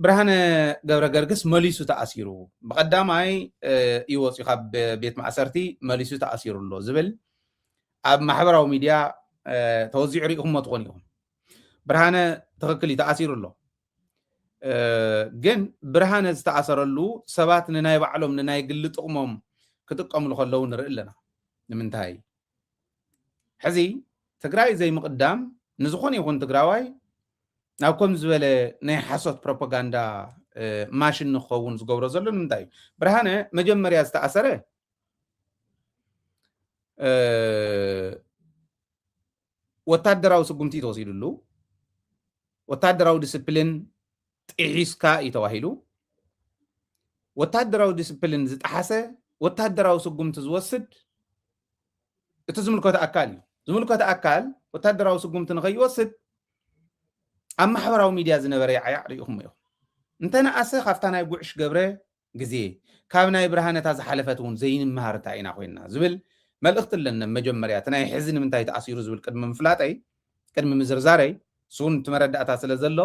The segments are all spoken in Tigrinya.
ብርሃነ ገብረገርግስ መሊሱ ተኣሲሩ ብቀዳማይ እዩ ወፅዩ ካብ ቤት ማእሰርቲ መሊሱ ተኣሲሩ ኣሎ ዝብል ኣብ ማሕበራዊ ሚድያ ተወዚዑ ሪኢኹሞ ትኾኑ ኢኹም ብርሃነ ትኽክል እዩ ተኣሲሩ ኣሎ ግን ብርሃነ ዝተኣሰረሉ ሰባት ንናይ ባዕሎም ንናይ ግሊ ጥቕሞም ክጥቀምሉ ከለዉ ንርኢ ኣለና ንምንታይ ሕዚ ትግራይ ዘይምቕዳም ንዝኾነ ይኹን ትግራዋይ ናብ ከም ዝበለ ናይ ሓሶት ፕሮፓጋንዳ ማሽን ንክኸውን ዝገብሮ ዘሎ ንምንታይ እዩ ብርሃነ መጀመርያ ዝተኣሰረ ወታደራዊ ስጉምቲ ተወሲድሉ ወታደራዊ ዲስፕሊን ጢሒስካ እዩ ተባሂሉ ወታደራዊ ዲስፕሊን ዝጠሓሰ ወታደራዊ ስጉምቲ ዝወስድ እቲ ዝምልከቶ ኣካል እዩ ዝምልከቶ ኣካል ወታደራዊ ስጉምቲ ንኸይወስድ ኣብ ማሕበራዊ ሚድያ ዝነበረ ይዓያዕ ሪኢኹም ኢኹም እንተነኣሰ ካብታ ናይ ጉዕሽ ገብረ ግዜ ካብ ናይ ብርሃነ እታ ዝሓለፈት እውን ዘይንመሃር እንታይ ኢና ኮይንና ዝብል መልእኽቲ ኣለኒ ኣብ መጀመርያ እቲ ናይ ሕዚ ንምንታይ ተኣሲሩ ዝብል ቅድሚ ምፍላጠይ ቅድሚ ምዝርዛረይ ንሱ እውን እቲ መረዳእታ ስለ ዘሎ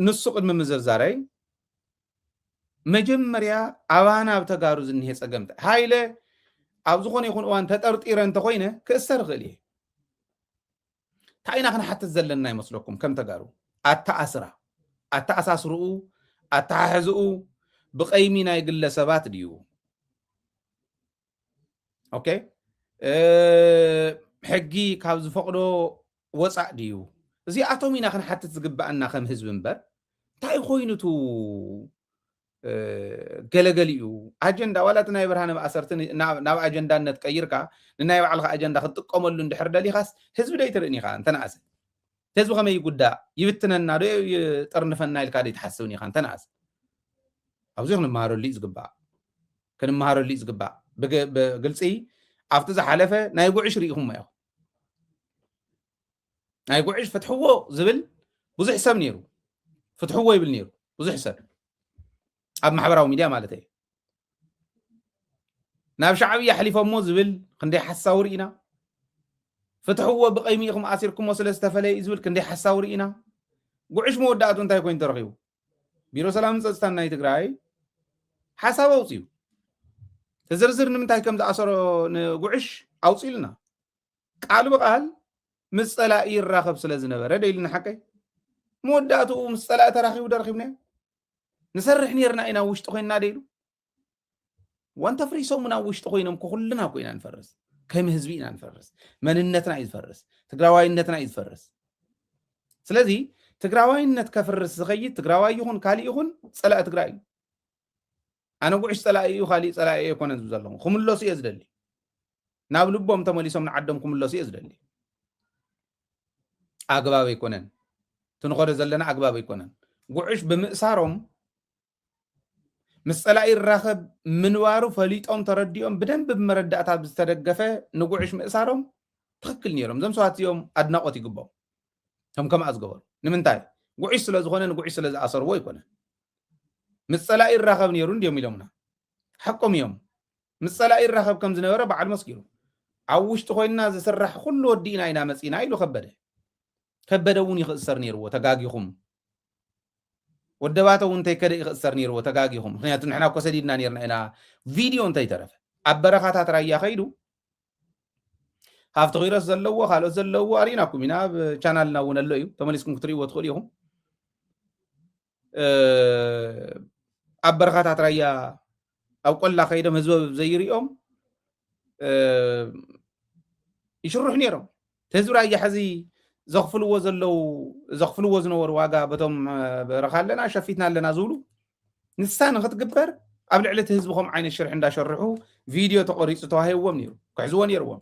ንሱ ቅድሚ ምዝርዛረይ መጀመርያ ኣባና ኣብ ተጋሩ ዝኒሄ ፀገም እንታይ ሃይለ ኣብ ዝኾነ ይኹን እዋን ተጠርጢረ እንተኾይነ ክእሰር ይኽእል እየ ታይ ኢና ክንሓትት ዘለና ይመስለኩም ከም ተጋሩ ኣተኣስራ ኣተኣሳስርኡ ኣተሓሕዝኡ ብቀይሚ ናይ ግለ ሰባት ድዩ ኦኬ ሕጊ ካብ ዝፈቅዶ ወፃእ ድዩ እዚኣቶም ኢና ክንሓትት ዝግባኣና ከም ህዝቢ እምበር እንታይ ኮይኑቱ ገለገሊኡ ኣጀንዳ ዋላ እቲ ናይ ብርሃነ ማእሰርቲ ናብ ኣጀንዳነት ቀይርካ ንናይ ባዕልካ ኣጀንዳ ክትጥቀመሉ እንድሕር ደሊኻስ ህዝቢ ዶ ይትርእን ኢኻ እንተነኣሰ ህዝቢ ከመይ ይጉዳእ ይብትነና ዶ ይጠርንፈና ኢልካ ዶ ይትሓስብን ኢኻ እንተነኣሰ ኣብዚ ክንመሃረሉ እዩ ዝግባእ ክንመሃረሉ እዩ ዝግባእ ብግልፂ ኣብቲ ዝሓለፈ ናይ ጉዕሽ ርኢኹሞ ኢኹም ናይ ጉዕሽ ፍትሕዎ ዝብል ብዙሕ ሰብ ነይሩ ፍትሕዎ ይብል ነይሩ ብዙሕ ሰብ ኣብ ማሕበራዊ ሚድያ ማለት እዩ ናብ ሻዕብያ ኣሕሊፎሞ ዝብል ክንደይ ሓሳዊ ርኢና ፍትሕዎ ብቀይሚ ኢኹም ኣሲርኩሞ ስለ ዝተፈለየ እዩ ዝብል ክንደይ ሓሳዊ ርኢና ጉዕሽ መወዳእቱ እንታይ ኮይኑ ተረኺቡ ቢሮ ሰላምን ፀፅታን ናይ ትግራይ ሓሳብ ኣውፅዩ ተዝርዝር ንምንታይ ከም ዝኣሰሮ ንጉዕሽ ኣውፅኢልና ቃል ብቃል ምስ ፀላኢ ይራኸብ ስለ ዝነበረ ደይሉ ንሓቀይ መወዳእትኡ ምስ ፀላኢ ተራኺቡ ደረኺብናዮ ንሰርሕ ነርና ኢና ውሽጢ ኮይንና ደይሉ ወንተ ፍሪሶምን ኣብ ውሽጢ ኮይኖም ኩኩልና እኮ ኢና ንፈርስ ከም ህዝቢ ኢና ንፈርስ መንነትና እዩ ዝፈርስ ትግራዋይነትና እዩ ዝፈርስ ስለዚ ትግራዋይነት ከፍርስ ዝኸይድ ትግራዋይ ይኹን ካሊእ ይኹን ፀላእ ትግራይ እዩ ኣነ ጉዕሽ ጸላኢ እዩ ካሊእ ጸላኢ ኣይኮነን ዝብ ዘለኹ ክምለሱ እየ ዝደሊ ናብ ልቦም ተመሊሶም ንዓዶም ክምለሱ እየ ዝደሊ ኣግባብ ኣይኮነን ትንኸዶ ዘለና ኣግባብ ኣይኮነን ጉዕሽ ብምእሳሮም ምስ ጸላኢ ይራኸብ ምንባሩ ፈሊጦም ተረዲኦም ብደንብ ብመረዳእታ ዝተደገፈ ንጉዕሽ ምእሳሮም ትክክል ነይሮም እዞም ሰባት እዚኦም ኣድናቆት ይግባው ከም ከምኣ ዝገበሩ ንምንታይ ጉዕሽ ስለዝኾነ ንጉዕሽ ስለዝኣሰርዎ ኣይኮነን ምስ ጸላኢ ይራኸብ ነይሩ እንድዮም ኢሎምና ሓቆም እዮም ምስ ጸላኢ ይራኸብ ከም ዝነበረ ባዕሉ መስኪሩ ኣብ ውሽጢ ኮይንና ዝስራሕ ኩሉ ወዲእና ኢና መጺና ኢሉ ከበደ ከበደ እውን ይኽእሰር ነይርዎ ተጋጊኹም ወደባተ እውን እንተይከደ ይኽእሰር ነይርዎ ተጋጊኹም ምክንያቱ ንሕና እኮ ሰዲድና ነርና ኢና ቪድዮ እንተይተረፈ ኣብ በረኻታት ራያ ከይዱ ሃፍቲ ኪሮስ ዘለዎ ካልኦት ዘለዎ ኣሪእናኩም ኢና ኣብ ቻናልና እውን ኣሎ እዩ ተመሊስኩም ክትርእይዎ ትኽእሉ ኢኹም ኣብ በረኻታት ራያ ኣብ ቆላ ከይዶም ህዝቢ ዘይርኦም ይሽርሑ ነይሮም እቲ ህዝቢ ራያ ሕዚ ዘኽፍልዎ ዘለው ዘኽፍልዎ ዝነበሩ ዋጋ በቶም በረኻ ኣለና ሸፊትና ኣለና ዝብሉ ንሳ ንክትግበር ኣብ ልዕሊ እቲ ህዝቢ ከም ዓይነት ሽርሒ እንዳሸርሑ ቪድዮ ተቆሪፁ ተዋሂብዎም ነይሩ ክሕዝዎ ነይርዎም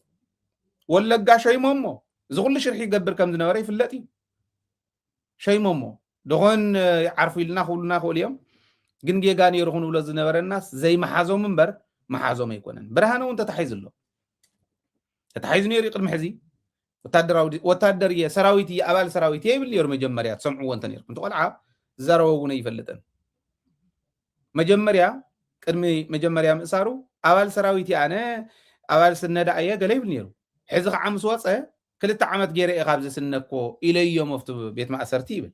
ወለጋ ሸይሞሞ እዚ ኩሉ ሽርሒ ይገብር ከም ዝነበረ ይፍለጥ እዩ ሸይሞሞ ደኾን ይዓርፉ ኢልና ክብሉና ይኽእሉ እዮም ግን ጌጋ ነይሩ ክንብሎ ዝነበረናስ ዘይመሓዞም እምበር መሓዞም ኣይኮነን ብርሃነ እውን ተታሒዙ ኣሎ ተታሒዙ ነይሩ እዩ ቅድሚ ሕዚ ወታደራዊ ወታደር እየ ሰራዊት እየ ኣባል ሰራዊት እየ ይብል ነይሩ መጀመርያ ትሰምዕዎ እንተ ነርኩም እቲ ቆልዓ ዝዛረቦ እውን ኣይፈልጥን መጀመርያ ቅድሚ መጀመርያ ምእሳሩ ኣባል ሰራዊት እየ ኣነ ኣባል ስነዳ እየ ገለ ይብል ነይሩ ሕዚ ከዓ ምስ ወፀ ክልተ ዓመት ገይረ እየ ካብዚ ስነኮ ኢለዮ መፍቱ ቤት ማእሰርቲ ይብል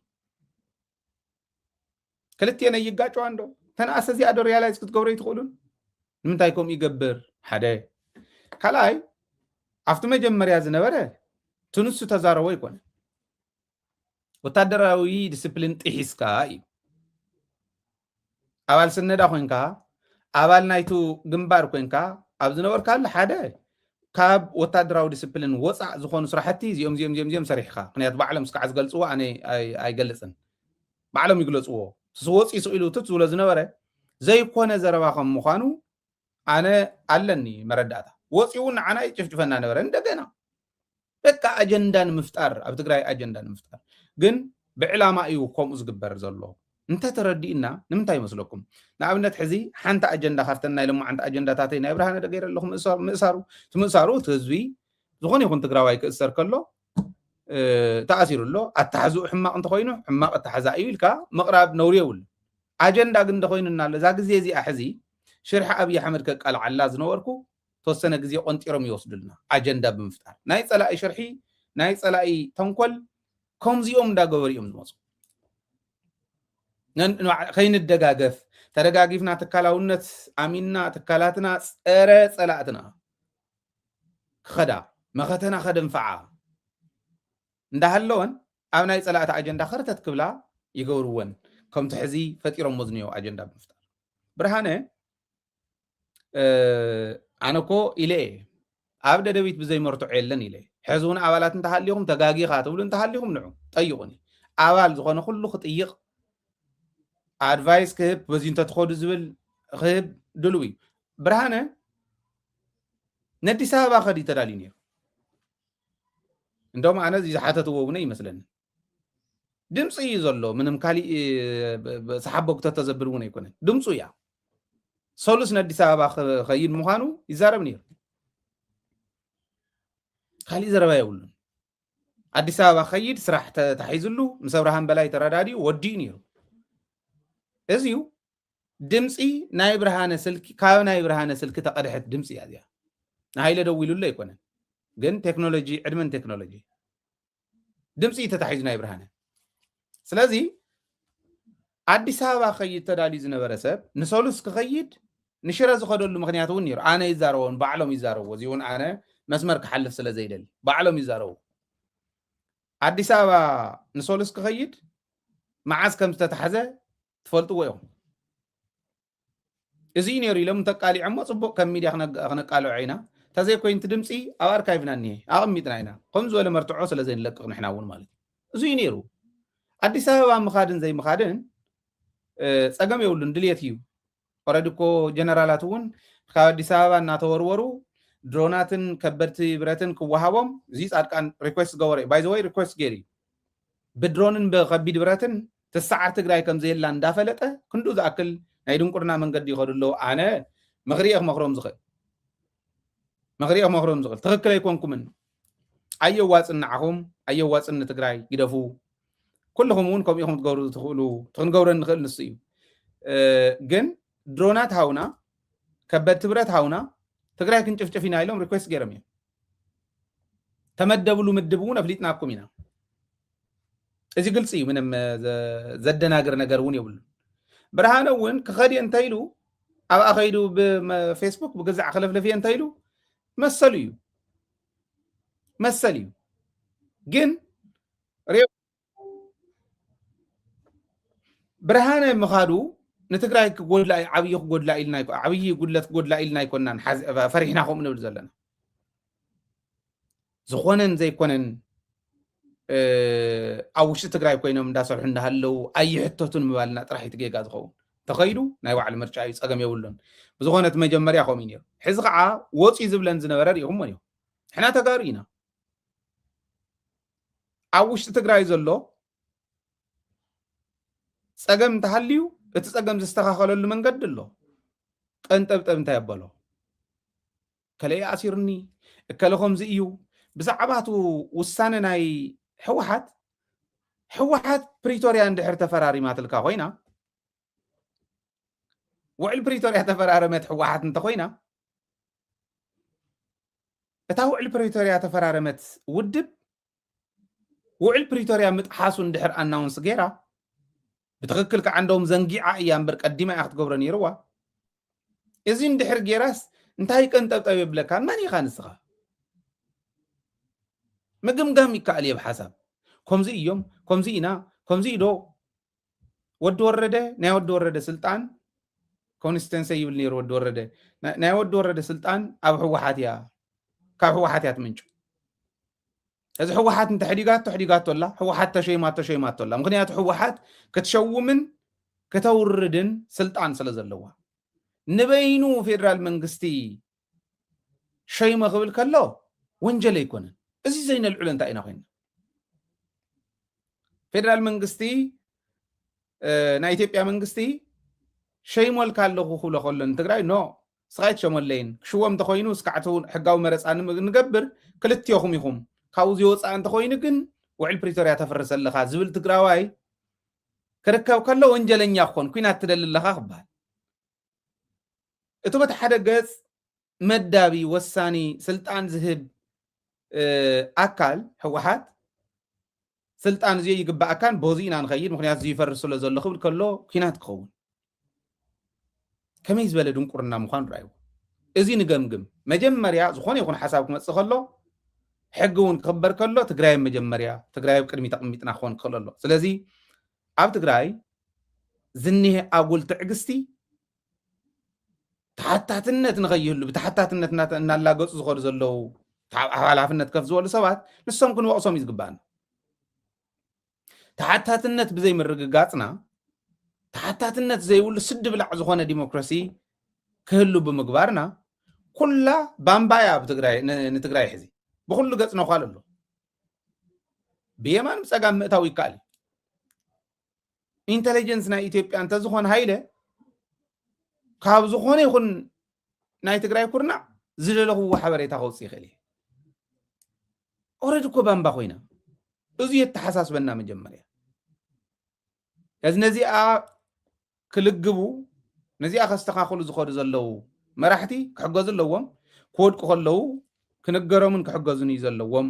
ክልቴን ኣይጋጨዋን ዶ ተንኣሰ እዚኣ ዶ ሪያላይዝ ክትገብሮ ይትኽእሉን ንምንታይ ከምኡ ይገብር ሓደ ካልኣይ ኣብቲ መጀመርያ ዝነበረ ትንሱ ተዛረቦ ይኮነ ወታደራዊ ዲስፕሊን ጥሒስካ እዩ ኣባል ስነዳ ኮንካ ኣባል ናይቱ ግንባር ኮንካ ኣብ ዝነበርካሉ ሓደ ካብ ወታደራዊ ዲስፕሊን ወፃእ ዝኾኑ ስራሕቲ እዚኦም እዚኦም እዚኦም እዚኦም ሰሪሕኻ ምክንያቱ ባዕሎም እስካዕ ዝገልፅዎ ኣነ ኣይገልፅን ባዕሎም ይግለፅዎ ስወፅ ይስኡ ኢሉ ትት ዝብሎ ዝነበረ ዘይኮነ ዘረባ ከም ምዃኑ ኣነ ኣለኒ መረዳእታ ወፂኡ ንዓና ይጭፍጭፈና ነበረ እንደገና በቃ ኣጀንዳ ንምፍጣር ኣብ ትግራይ ኣጀንዳ ንምፍጣር ግን ብዕላማ እዩ ከምኡ ዝግበር ዘሎ እንተተረዲእና ንምንታይ ይመስለኩም ንኣብነት ሕዚ ሓንቲ ኣጀንዳ ካብተን ናይ ሎማዓንቲ ኣጀንዳታተይ ናይ ብርሃነ ደገይረ ኣለኹ ምእሳሩ እቲ ምእሳሩ እቲ ህዝቢ ዝኾነ ይኹን ትግራዋይ ክእሰር ከሎ ተኣሲሩ ኣሎ ኣተሓዝኡ ሕማቕ እንተኮይኑ ሕማቕ ኣተሓዛ እዩ ኢልካ ምቕራብ ነውሪ የብሉ ኣጀንዳ ግን እንተኮይኑና ኣሎ እዛ ግዜ እዚኣ ሕዚ ሽርሒ ኣብዪ ኣሕመድ ከቃልዓላ ዝነበርኩ ተወሰነ ግዜ ቆንጢሮም ይወስዱልና ኣጀንዳ ብምፍጣር ናይ ጸላኢ ሽርሒ ናይ ጸላኢ ተንኮል ከምዚኦም እንዳገበሩ እዮም ዝመፁ ከይንደጋገፍ ተደጋጊፍና ትካላውነት ኣሚንና ትካላትና ፀረ ፀላእትና ክኸዳ መኸተና ከደንፈዓ እንዳሃለወን ኣብ ናይ ፀላእቲ ኣጀንዳ ከርተት ክብላ ይገብርወን ከምቲ ሕዚ ፈጢሮሞ ዝኒኦ ኣጀንዳ ብምፍጣር ብርሃነ ኣነ እኮ ኢለ እየ ኣብ ደደቢት ብዘይመርትዖ የለን ኢለ ሕዚ እውን ኣባላት እንተሃሊኹም ተጋጊኻ ትብሉ እንተሃሊኹም ንዑ ጠይቑኒ ኣባል ዝኾነ ኩሉ ክጥይቕ ኣድቫይስ ክህብ በዚ እንተትኸዱ ዝብል ክህብ ድልው እዩ ብርሃነ ነዲስ ኣበባ ከዲ ተዳልዩ ነይሩ እንደውም ኣነ እዚ ዝሓተትዎ እውነ ይመስለኒ ድምፂ እዩ ዘሎ ምንም ካሊእ ሰሓቦግቶ ተዘብል እውን ኣይኮነን ድምፁ እያ ሰሉስ ንኣዲስ ኣበባ ክኸይድ ምዃኑ ይዛረብ ነይሩ ካሊእ ዘረባ የብሉን ኣዲስ ኣበባ ከይድ ስራሕ ተታሒዝሉ ምስ ኣብርሃም በላይ ተረዳዲኡ ወዲኡ ነይሩ እዚዩ ድምፂ ናይ ብርሃነ ስልኪ ካብ ናይ ብርሃነ ስልኪ ተቐድሐት ድምፂ እያ እዚኣ ንሃይለ ደዊሉሉ ኣይኮነን ግን ቴክኖሎጂ ዕድመን ቴክኖሎጂ ድምፂ እዩ ተታሒዙ ናይ ብርሃነ ስለዚ ኣዲስ ኣበባ ክኸይድ ተዳልዩ ዝነበረ ሰብ ንሰሉስ ክኸይድ ንሽረ ዝኸደሉ ምክንያት እውን ነይሩ ኣነ ይዛረቦን ባዕሎም ይዛረብዎ እዚ እውን ኣነ መስመር ክሓልፍ ስለ ዘይደሊ ባዕሎም ይዛረቡ ኣዲስ ኣበባ ንሰሉስ ክኸይድ መዓዝ ከም ዝተታሕዘ ትፈልጥዎ ኢኹም እዚ እዩ ነይሩ ኢሎም እንተቃሊዖሞ ፅቡቅ ከም ሚድያ ክነቃልዖ ኢና ተዘይኮይኑ እቲ ድምፂ ኣብ ኣርካይቭና እኒሀ ኣቐሚጥና ኢና ከም ዝበለ መርትዖ ስለ ዘይንለቅቕ ንሕና እውን ማለት እዩ እዚ እዩ ነይሩ ኣዲስ ኣበባ ምኻድን ዘይምኻድን ፀገም የብሉን ድልየት እዩ ኦረዲ እኮ ጀነራላት እውን ካብ ኣዲስ ኣበባ እናተወርወሩ ድሮናትን ከበድቲ ብረትን ክወሃቦም እዚ ፃድቃን ሪኩዌስት ገበረ ባይዘወይ ሪኩዌስት ገይሩ እዩ ብድሮንን ብከቢድ ብረትን ትስዓር ትግራይ ከምዘየላ እንዳፈለጠ ክንድኡ ዝኣክል ናይ ድንቁርና መንገዲ ይኸዱ ኣለዉ ኣነ ምኽሪየ ክመኽሮም ዝኽእል ምኽሪየ ክመኽሮም ዝኽእል ትኽክል ኣይኮንኩምን ኣየዋፅን ንዓኹም ኣየዋፅን ንትግራይ ግደፉ ኩልኹም እውን ከምኡ ኢኹም ትገብሩ ትኽእሉ ክንገብረ ንኽእል ንሱ እዩ ግን ድሮናት ሃውና ከበድቲ ብረት ሃውና ትግራይ ክንጭፍጭፍ ኢና ኢሎም ሪኩዌስት ገይሮም እዮም ተመደብሉ ምድብ እውን ኣፍሊጥናኩም ኢና። እዚ ግልፂ እዩ፣ ምንም ዘደናግር ነገር እውን የብሉ። ብርሃነ እውን ክኸድ እየ እንተይሉ ኣብኣ ከይዱ ብፌስቡክ ብግዛዕ ክለፍለፍ እየ እንተይሉ መሰሉ እዩ መሰል እዩ ግን ብርሃነ ምኻዱ ንትግራይ ክጎድላ ዓብዪ ክጎድላ ኢልና ዓብዪ ጉድለት ክጎድላ ኢልና ኣይኮናን ፈሪሕና ከምኡ ንብል ዘለና ዝኾነን ዘይኮነን ኣብ ውሽጢ ትግራይ ኮይኖም እንዳሰርሑ እንዳሃለው ኣይሕተቱን ምባልና ጥራሕ እዩ ጌጋ ዝኸውን ተኸይዱ ናይ ባዕሉ ምርጫ እዩ ፀገም የብሉን ብዝኾነት መጀመርያ ከምኡ እዩ ነይሩ ሕዚ ከዓ ወፂ ዝብለን ዝነበረ ሪኢኹሞ እዩ ሕና ተጋሩ ኢና ኣብ ውሽጢ ትግራይ ዘሎ ፀገም እንተሃልዩ እቲ ፀገም ዝስተኻኸለሉ መንገዲ ኣሎ ቀንጠብጠብ እንታይ ኣበሎ ከለይ ኣሲርኒ እከለ ከምዚ እዩ ብዛዕባ እቲ ውሳነ ናይ ሕወሓት ሕወሓት ፕሪቶርያ እንድሕር ተፈራሪማትልካ ኮይና ውዕል ፕሪቶርያ ተፈራረመት ሕወሓት እንተኮይና እታ ውዕል ፕሪቶርያ ተፈራረመት ውድብ ውዕል ፕሪቶርያ ምጥሓሱ እንድሕር ኣናውንስ ገይራ ብትኽክል ከዓ እንደውም ዘንጊዓ እያ እምበር ቀዲማ እያ ክትገብሮ ነይርዋ እዚ እንድሕር ገይራስ እንታይ ቀንጠብጠብ የብለካ መን ኢኻ ንስኻ ምግምጋም ይከኣል እየ ብሓሳብ ከምዚ እዮም ከምዚ ኢና ከምዚ ኢዶ ወዲ ወረደ ናይ ወዲ ወረደ ስልጣን ኮንስተንሰ ይብል ነይሩ ወዲ ወረደ ናይ ወዲ ወረደ ስልጣን ኣብ ህወሓት እያ ካብ ህወሓት እያ ትምንጩ እዚ ህወሓት እንተሕዲጋቶ ሕዲጋቶ ኣላ ህወሓት ተሸይማ ተሸይማቶ ኣላ ምክንያቱ ህወሓት ክትሸውምን ከተውርድን ስልጣን ስለ ዘለዋ ንበይኑ ፌደራል መንግስቲ ሸይሞ ክብል ከሎ ወንጀል ኣይኮነን። እዚ ዘይነልዕሎ እንታይ ኢና ኮይና? ፌደራል መንግስቲ ናይ ኢትዮጵያ መንግስቲ ሸይሞልካ ኣለኹ ክብሎ ከሎ ንትግራይ ኖ ስቃይ ትሸመለይን ክሽወም እንተኮይኑ ስካዕቲ ሕጋዊ መረፃ ንገብር ክልትዮኹም ኢኹም ካብኡ ዝወፃ እንተኮይኑ ግን ውዕል ፕሪቶርያ ተፍርስ ኣለካ ዝብል ትግራዋይ ክርከብ ከሎ ወንጀለኛ ክኾን ኩናት ትደሊ ኣለኻ ክበሃል እቲ በቲ ሓደ ገፅ መዳቢ ወሳኒ ስልጣን ዝህብ ኣካል ህወሓት ስልጣን እዚኦ ይግባኣካን በዚ ኢና ንኸይድ ምክንያቱ እዚ ይፈርስ ስለ ዘሎ ክብል ከሎ ኩናት ክኸውን ከመይ ዝበለ ድንቁርና ምዃኑ ርኣይዎ እዚ ንገምግም መጀመርያ ዝኾነ ይኹን ሓሳብ ክመፅእ ከሎ ሕጊ እውን ክኽበር ከሎ ትግራይ መጀመርያ ትግራይ ኣብ ቅድሚ ተቕሚጥና ክኾን ክኽእል ኣሎ ስለዚ ኣብ ትግራይ ዝኒሀ ኣጉል ትዕግስቲ ተሓታትነት ንኸይህሉ ብተሓታትነት እናላገፁ ዝኸዱ ዘለዉ ሓላፍነት ከፍ ዝበሉ ሰባት ንሶም ክንወቕሶም እዩ ዝግባእና ተሓታትነት ብዘይምርግጋፅና ተሓታትነት ዘይብሉ ስዲ ብላዕ ዝኾነ ዲሞክራሲ ክህሉ ብምግባርና ኩላ ባምባያ ንትግራይ ሕዚ ብኩሉ ገፅ ነኳል ኣሎ ብየማን ብፀጋም ምእታው ይከኣል እዩ ኢንተለጀንስ ናይ ኢትዮጵያ እንተዝኾን ሃይለ ካብ ዝኾነ ይኹን ናይ ትግራይ ኩርናዕ ዝደለኽዎ ሓበሬታ ከውፅእ ይኽእል እየ ኦረድ እኮ ባምባ ኮይና እዚ የተሓሳስበና መጀመርያ እዚ ነዚኣ ክልግቡ ነዚኣ ከስተኻኽሉ ዝኸዱ ዘለዉ መራሕቲ ክሕገዙ ኣለዎም ክወድቁ ከለዉ ክንገሮምን ክሕገዙን እዩ ዘለዎም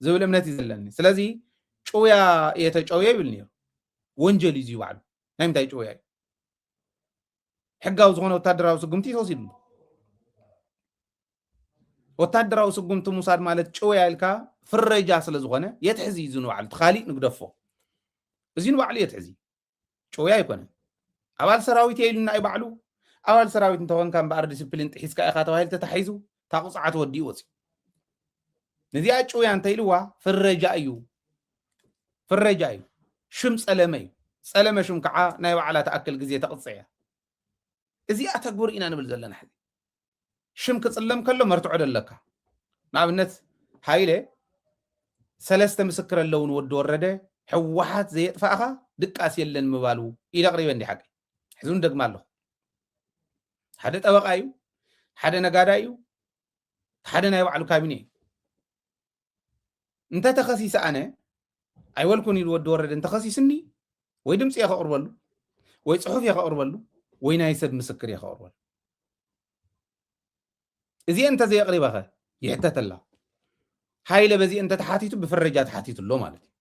ዝብል እምነት እዩ ዘለኒ ስለዚ ጭውያ እየ ተጨውየ ይብል ነይሩ ወንጀል እዩ ባዕሉ ናይ ምንታይ ጭውያ እዩ ሕጋዊ ዝኾነ ወታደራዊ ስጉምቲ ተወሲድሉ ወታደራዊ ስጉምቲ ምውሳድ ማለት ጭውያ ኢልካ ፍረጃ ስለ ዝኾነ የትሕዚ እዩ ንባዕሉ እቲ ካሊእ ንግደፎ እዚ ንባዕሉ የትሕዚ ጭውያ ኣይኮነን ኣባል ሰራዊት እየ ኢሉና እዩ ባዕሉ ኣባል ሰራዊት እንተኾንካ እምበኣር ዲስፕሊን ጥሒስካ ኢኻ ተባሂሉ ተታሒዙ እታ ቁፅዓት ወዲኡ ወፅዩ ነዚኣ ጭውያ እንተኢልዋ ፍረጃ እዩ ፍረጃ እዩ ሽም ፀለመ እዩ ፀለመ ሽም ከዓ ናይ ባዕላ ተኣክል ግዜ ተቕፅዕ እያ እዚኣ ተግብር ኢና ንብል ዘለና ሕዚ ሽም ክጽለም ከሎ መርትዖ ዶ ኣለካ? ንኣብነት ሃይለ ሰለስተ ምስክር ኣለዉ ንወዲ ወረደ ሕወሓት ዘየጥፋእኻ ድቃስ የለን ምባሉ ኢለ ኣቕሪበ እንዲ ሓቂ ሕዚ እውን ደግማ ኣለኹ ሓደ ጠበቃ እዩ ሓደ ነጋዳ እዩ ሓደ ናይ ባዕሉ ካቢነ እዩ እንተ ተኸሲሰ ኣነ ኣይበልኩን ኢሉ ወዲ ወረደ እንተኸሲስኒ ወይ ድምፂ እየ ከቕርበሉ ወይ ፅሑፍ እየ ከቕርበሉ ወይ ናይ ሰብ ምስክር እየ ከቕርበሉ እዚአ እንተዘየቕሪበ ኸ ይሕተት ኣላ ሃይለ በዚ እንተተሓቲቱ ብፍረጃ ተሓቲቱ ኣሎ ማለት እዩ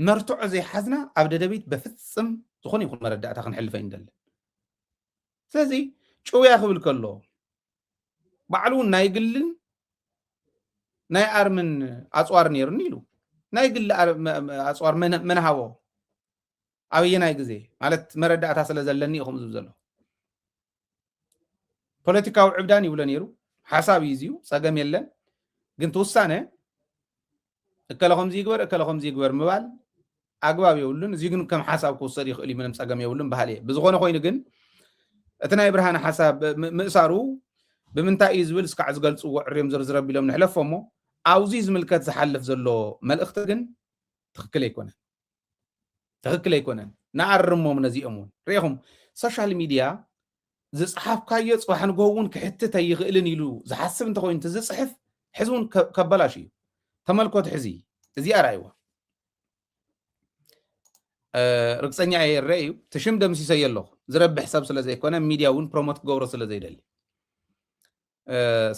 መርትዖ ዘይሓዝና ኣብ ደደቢት በፍፅም ዝኾነ ይኹን መረዳእታ ክንሕልፈ ይንደለን ስለዚ ጭውያ ክብል ከሎ ባዕሉ እውን ናይ ግልን ናይ ኣርምን ኣፅዋር ነይሩኒ ኢሉ ናይ ግሊ ኣፅዋር መን ሃቦ ኣበየናይ ግዜ ማለት መረዳእታ ስለ ዘለኒ ኢኹም ዝብ ዘሎ ፖለቲካዊ ዕብዳን ይብሎ ነይሩ ሓሳብ እዩ እዚዩ ፀገም የለን ግን ትውሳነ እከለ ከምዚ ይግበር እከለ ከምዚ ይግበር ምባል ኣግባብ የብሉን እዚ ግን ከም ሓሳብ ክውሰድ ይኽእል እዩ ምንም ፀገም የብሉን በሃሊ እየ ብዝኾነ ኮይኑ ግን እቲ ናይ ብርሃነ ሓሳብ ምእሳሩ ብምንታይ እዩ ዝብል እስካዕ ዝገልፅዎ ዕርዮም ዝርዝር ኣቢሎም ንሕለፎ እሞ ኣብዚ ዝምልከት ዝሓልፍ ዘሎ መልእኽቲ ግን ትኽክል ኣይኮነን ትኽክል ኣይኮነን ንኣርሞም ነዚኦም እውን ርኢኹም ሶሻል ሚድያ ዝፀሓፍካዮ ፅባሕ ንግሆ እውን ክሕትት ኣይኽእልን ኢሉ ዝሓስብ እንተኮይኑ እቲ ዝፅሕፍ ሕዚ እውን ከበላሽ እዩ ተመልኮት ሕዚ እዚኣ ርኣይዋ ርግፀኛ እየ ይረአ እዩ እቲ ሽም ደምሲሰዮ ኣለኹ ዝረብሕ ሰብ ስለ ዘይኮነ ሚድያ እውን ፕሮሞት ክገብሮ ስለ ዘይደሊ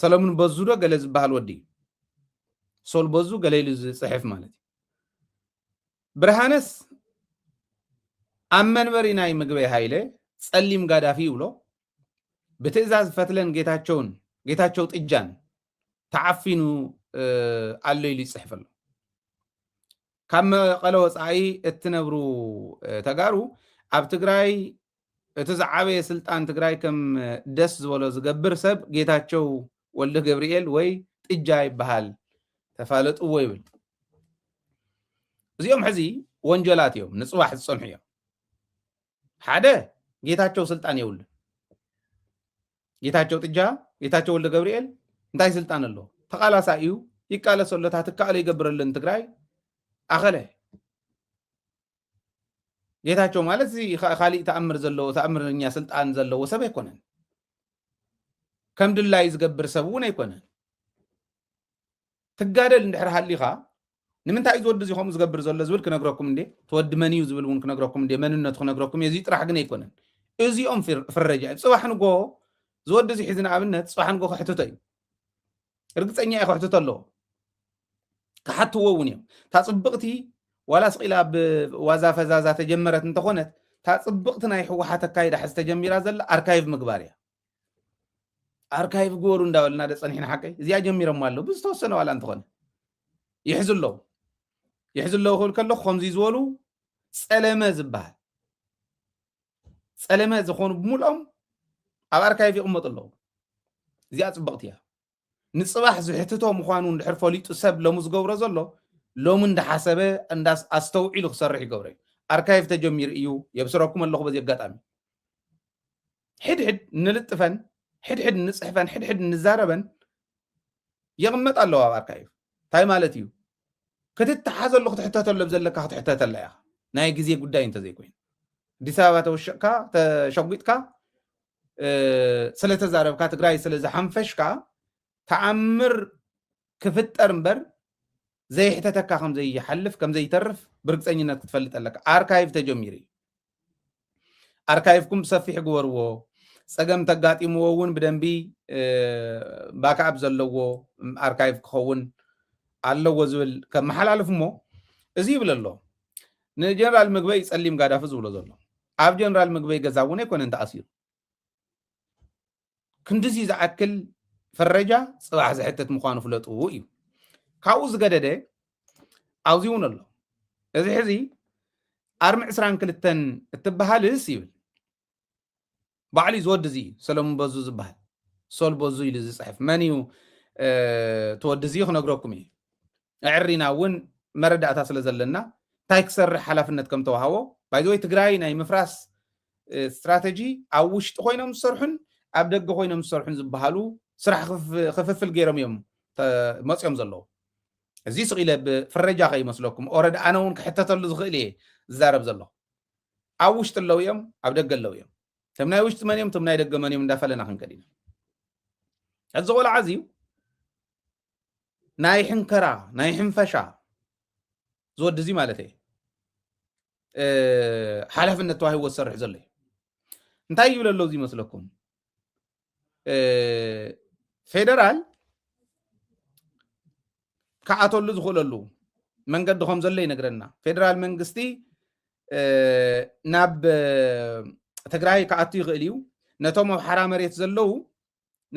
ሰለሙን በዙ ዶ ገለ ዝበሃል ወዲ እዩ ሶል በዙ ገለ ኢሉ ዝፅሕፍ ማለት እዩ ብርሃነስ ኣብ መንበሪ ናይ ምግበይ ሃይለ ፀሊም ጋዳፊ ይብሎ ብትእዛዝ ፈትለን ጌታቸውን ጌታቸው ጥጃን ተዓፊኑ ኣሎ ኢሉ ይፅሕፍ ኣሎ ካብ መቐለ ወፃኢ እትነብሩ ተጋሩ ኣብ ትግራይ እቲ ዝዓበየ ስልጣን ትግራይ ከም ደስ ዝበሎ ዝገብር ሰብ ጌታቸው ወልደገብርኤል ወይ ጥጃ ይበሃል ተፋለጥዎ ይብል። እዚኦም ሕዚ ወንጀላት እዮም፣ ንፅባሕ ዝፀንሑ እዮም። ሓደ ጌታቸው ስልጣን የብሉን። ጌታቸው ጥጃ፣ ጌታቸው ወልደ ገብርኤል እንታይ ስልጣን ኣለዎ? ተቃላሳ እዩ፣ ይቃለሰሎታ ትካእሎ ይገብረሉ ንትግራይ ኣኸለ ጌታቸው ማለት እዚ ካ- ካሊእ ተኣምር ዘለዎ ተኣምርኛ ስልጣን ዘለዎ ሰብ ኣይኮነን ከም ድላዩ ዝገብር ሰብ እውን ኣይኮነን ትጋደል እንድሕር ሃሊኻ ንምንታይ እዩ ዝወዲ እዚ ከምኡ ዝገብር ዘሎ ዝብል ክነግረኩም እንዴ ተወዲ መን እዩ ዝብል እውን ክነግረኩም እንዴ መንነቱ ክነግረኩም እዩ እዚ ጥራሕ ግን ኣይኮነን እዚኦም ፍር- ፍረጃ እዮም ጽባሕ ንጎ ዝወዲ እዚ ሒዚ ንኣብነት ጽባሕ ንጎ ከሕትቶ እዩ ርግፀኛ እየ ክሕትቶ ኣለዎ ክሓትዎ እውን እዮም እታ ፅብቕቲ ዋላ ስቂላ ኣብ ዋዛ ፈዛዛ ተጀመረት እንተኾነት እታ ፅብቕቲ ናይ ህወሓት ኣካይዳ ሕዚ ተጀሚራ ዘላ ኣርካይቭ ምግባር እያ ኣርካይቭ ግበሩ እንዳበልና ደ ፀኒሕና ሓቀይ እዚኣ ጀሚሮማ ኣለዉ ብዝተወሰነ ዋላ እንተኾነ ይሕዙ ኣለዉ ይሕዙ ኣለዉ ክብል ከለኹ ከምዚ ዝበሉ ፀለመ ዝበሃል ፀለመ ዝኾኑ ብምልኦም ኣብ ኣርካይቭ ይቕመጡ ኣለዉ እዚኣ ፅብቕቲ እያ ንፅባሕ ዝሕትቶ ምዃኑ እንድሕር ፈሊጡ ሰብ ሎሚ ዝገብሮ ዘሎ ሎሚ እንዳሓሰበ እንዳ ኣስተውዒሉ ክሰርሕ ይገብሮ እዩ ኣርካይቭ ተጀሚሩ እዩ የብስረኩም ኣለኹ በዚ ኣጋጣሚ ሕድሕድ ንልጥፈን ሕድሕድ ንፅሕፈን ሕድሕድ ንዛረበን ይቕመጥ ኣለዎ ኣብ ኣርካይቭ እንታይ ማለት እዩ ክትተሓዘሉ ክትሕተተሉ ኣብ ዘለካ ክትሕተተላ ኢኻ ናይ ግዜ ጉዳይ እንተዘይኮይኑ ኣዲስ ኣበባ ተወሽቕካ ተሸጒጥካ ስለተዛረብካ ትግራይ ስለዝሓንፈሽካ ተኣምር ክፍጠር እምበር ዘይሕተተካ ከምዘይሓልፍ ከምዘይተርፍ ብርግፀኝነት ክትፈልጥ ኣለካ ኣርካይቭ ተጀሚሩ እዩ ኣርካይቭኩም ብሰፊሕ ግበርዎ ጸገም ተጋጢምዎ እውን ብደንቢ ባክኣፕ ዘለዎ ኣርካይቭ ክኸውን ኣለዎ ዝብል ከመሓላልፍ እሞ እዚ ይብል ኣሎ ንጀነራል ምግበይ ጸሊም ጋዳፊ ዝብሎ ዘሎ ኣብ ጀነራል ምግበይ ገዛ እውን ኣይኮነን ተኣሲሩ ክንድዚ ዝኣክል ፈረጃ ፅባሕ ዝሕትት ምዃኑ ፍለጡ እዩ ካብኡ ዝገደደ ኣብዚ እውን ኣሎ እዚ ሕዚ ኣርሚ ዕስራን ክልተን እትበሃልስ ይብል ባዕሉ እዩ ዝወዲ እዚ ሰለሙን በዙ ዝበሃል ሶል በዙ ኢሉ ዝፅሕፍ መን እዩ ተወዲ እዚ ክነግረኩም እዩ ኣዐሪና እውን መረዳእታ ስለ ዘለና እንታይ ክሰርሕ ሓላፍነት ከም ተዋሃቦ ባይ ዘ ወይ ትግራይ ናይ ምፍራስ ስትራተጂ ኣብ ውሽጢ ኮይኖም ዝሰርሑን ኣብ ደገ ኮይኖም ዝሰርሑን ዝበሃሉ ስራሕ ክፍፍል ገይሮም እዮም መፅኦም ዘለዉ እዚ ስቕ ኢለ ብፍረጃ ከይመስለኩም ኦረድ ኣነ እውን ክሕተተሉ ዝኽእል እየ ዝዛረብ ዘለኹ ኣብ ውሽጢ ኣለዉ እዮም ኣብ ደገ ኣለዉ እዮም እቶም ናይ ውሽጢ መን እዮም እቶም ናይ ደገ መን እዮም እንዳፈለና ክንከድ ኢና እዚ ቆልዓ እዚዩ ናይ ሕንከራ ናይ ሕንፈሻ ዝወዲ እዚ ማለት እየ ሓላፍነት ተዋሂቦ ዝሰርሕ ዘሎ እዩ እንታይ ይብል ኣሎ እዚ ይመስለኩም ፌደራል ክዓተሉ ዝኽእለሉ መንገዲ ከም ዘሎ ይነግረና ፌደራል መንግስቲ ናብ ትግራይ ክኣቱ ይኽእል እዩ ነቶም ኣብ ሓራ መሬት ዘለዉ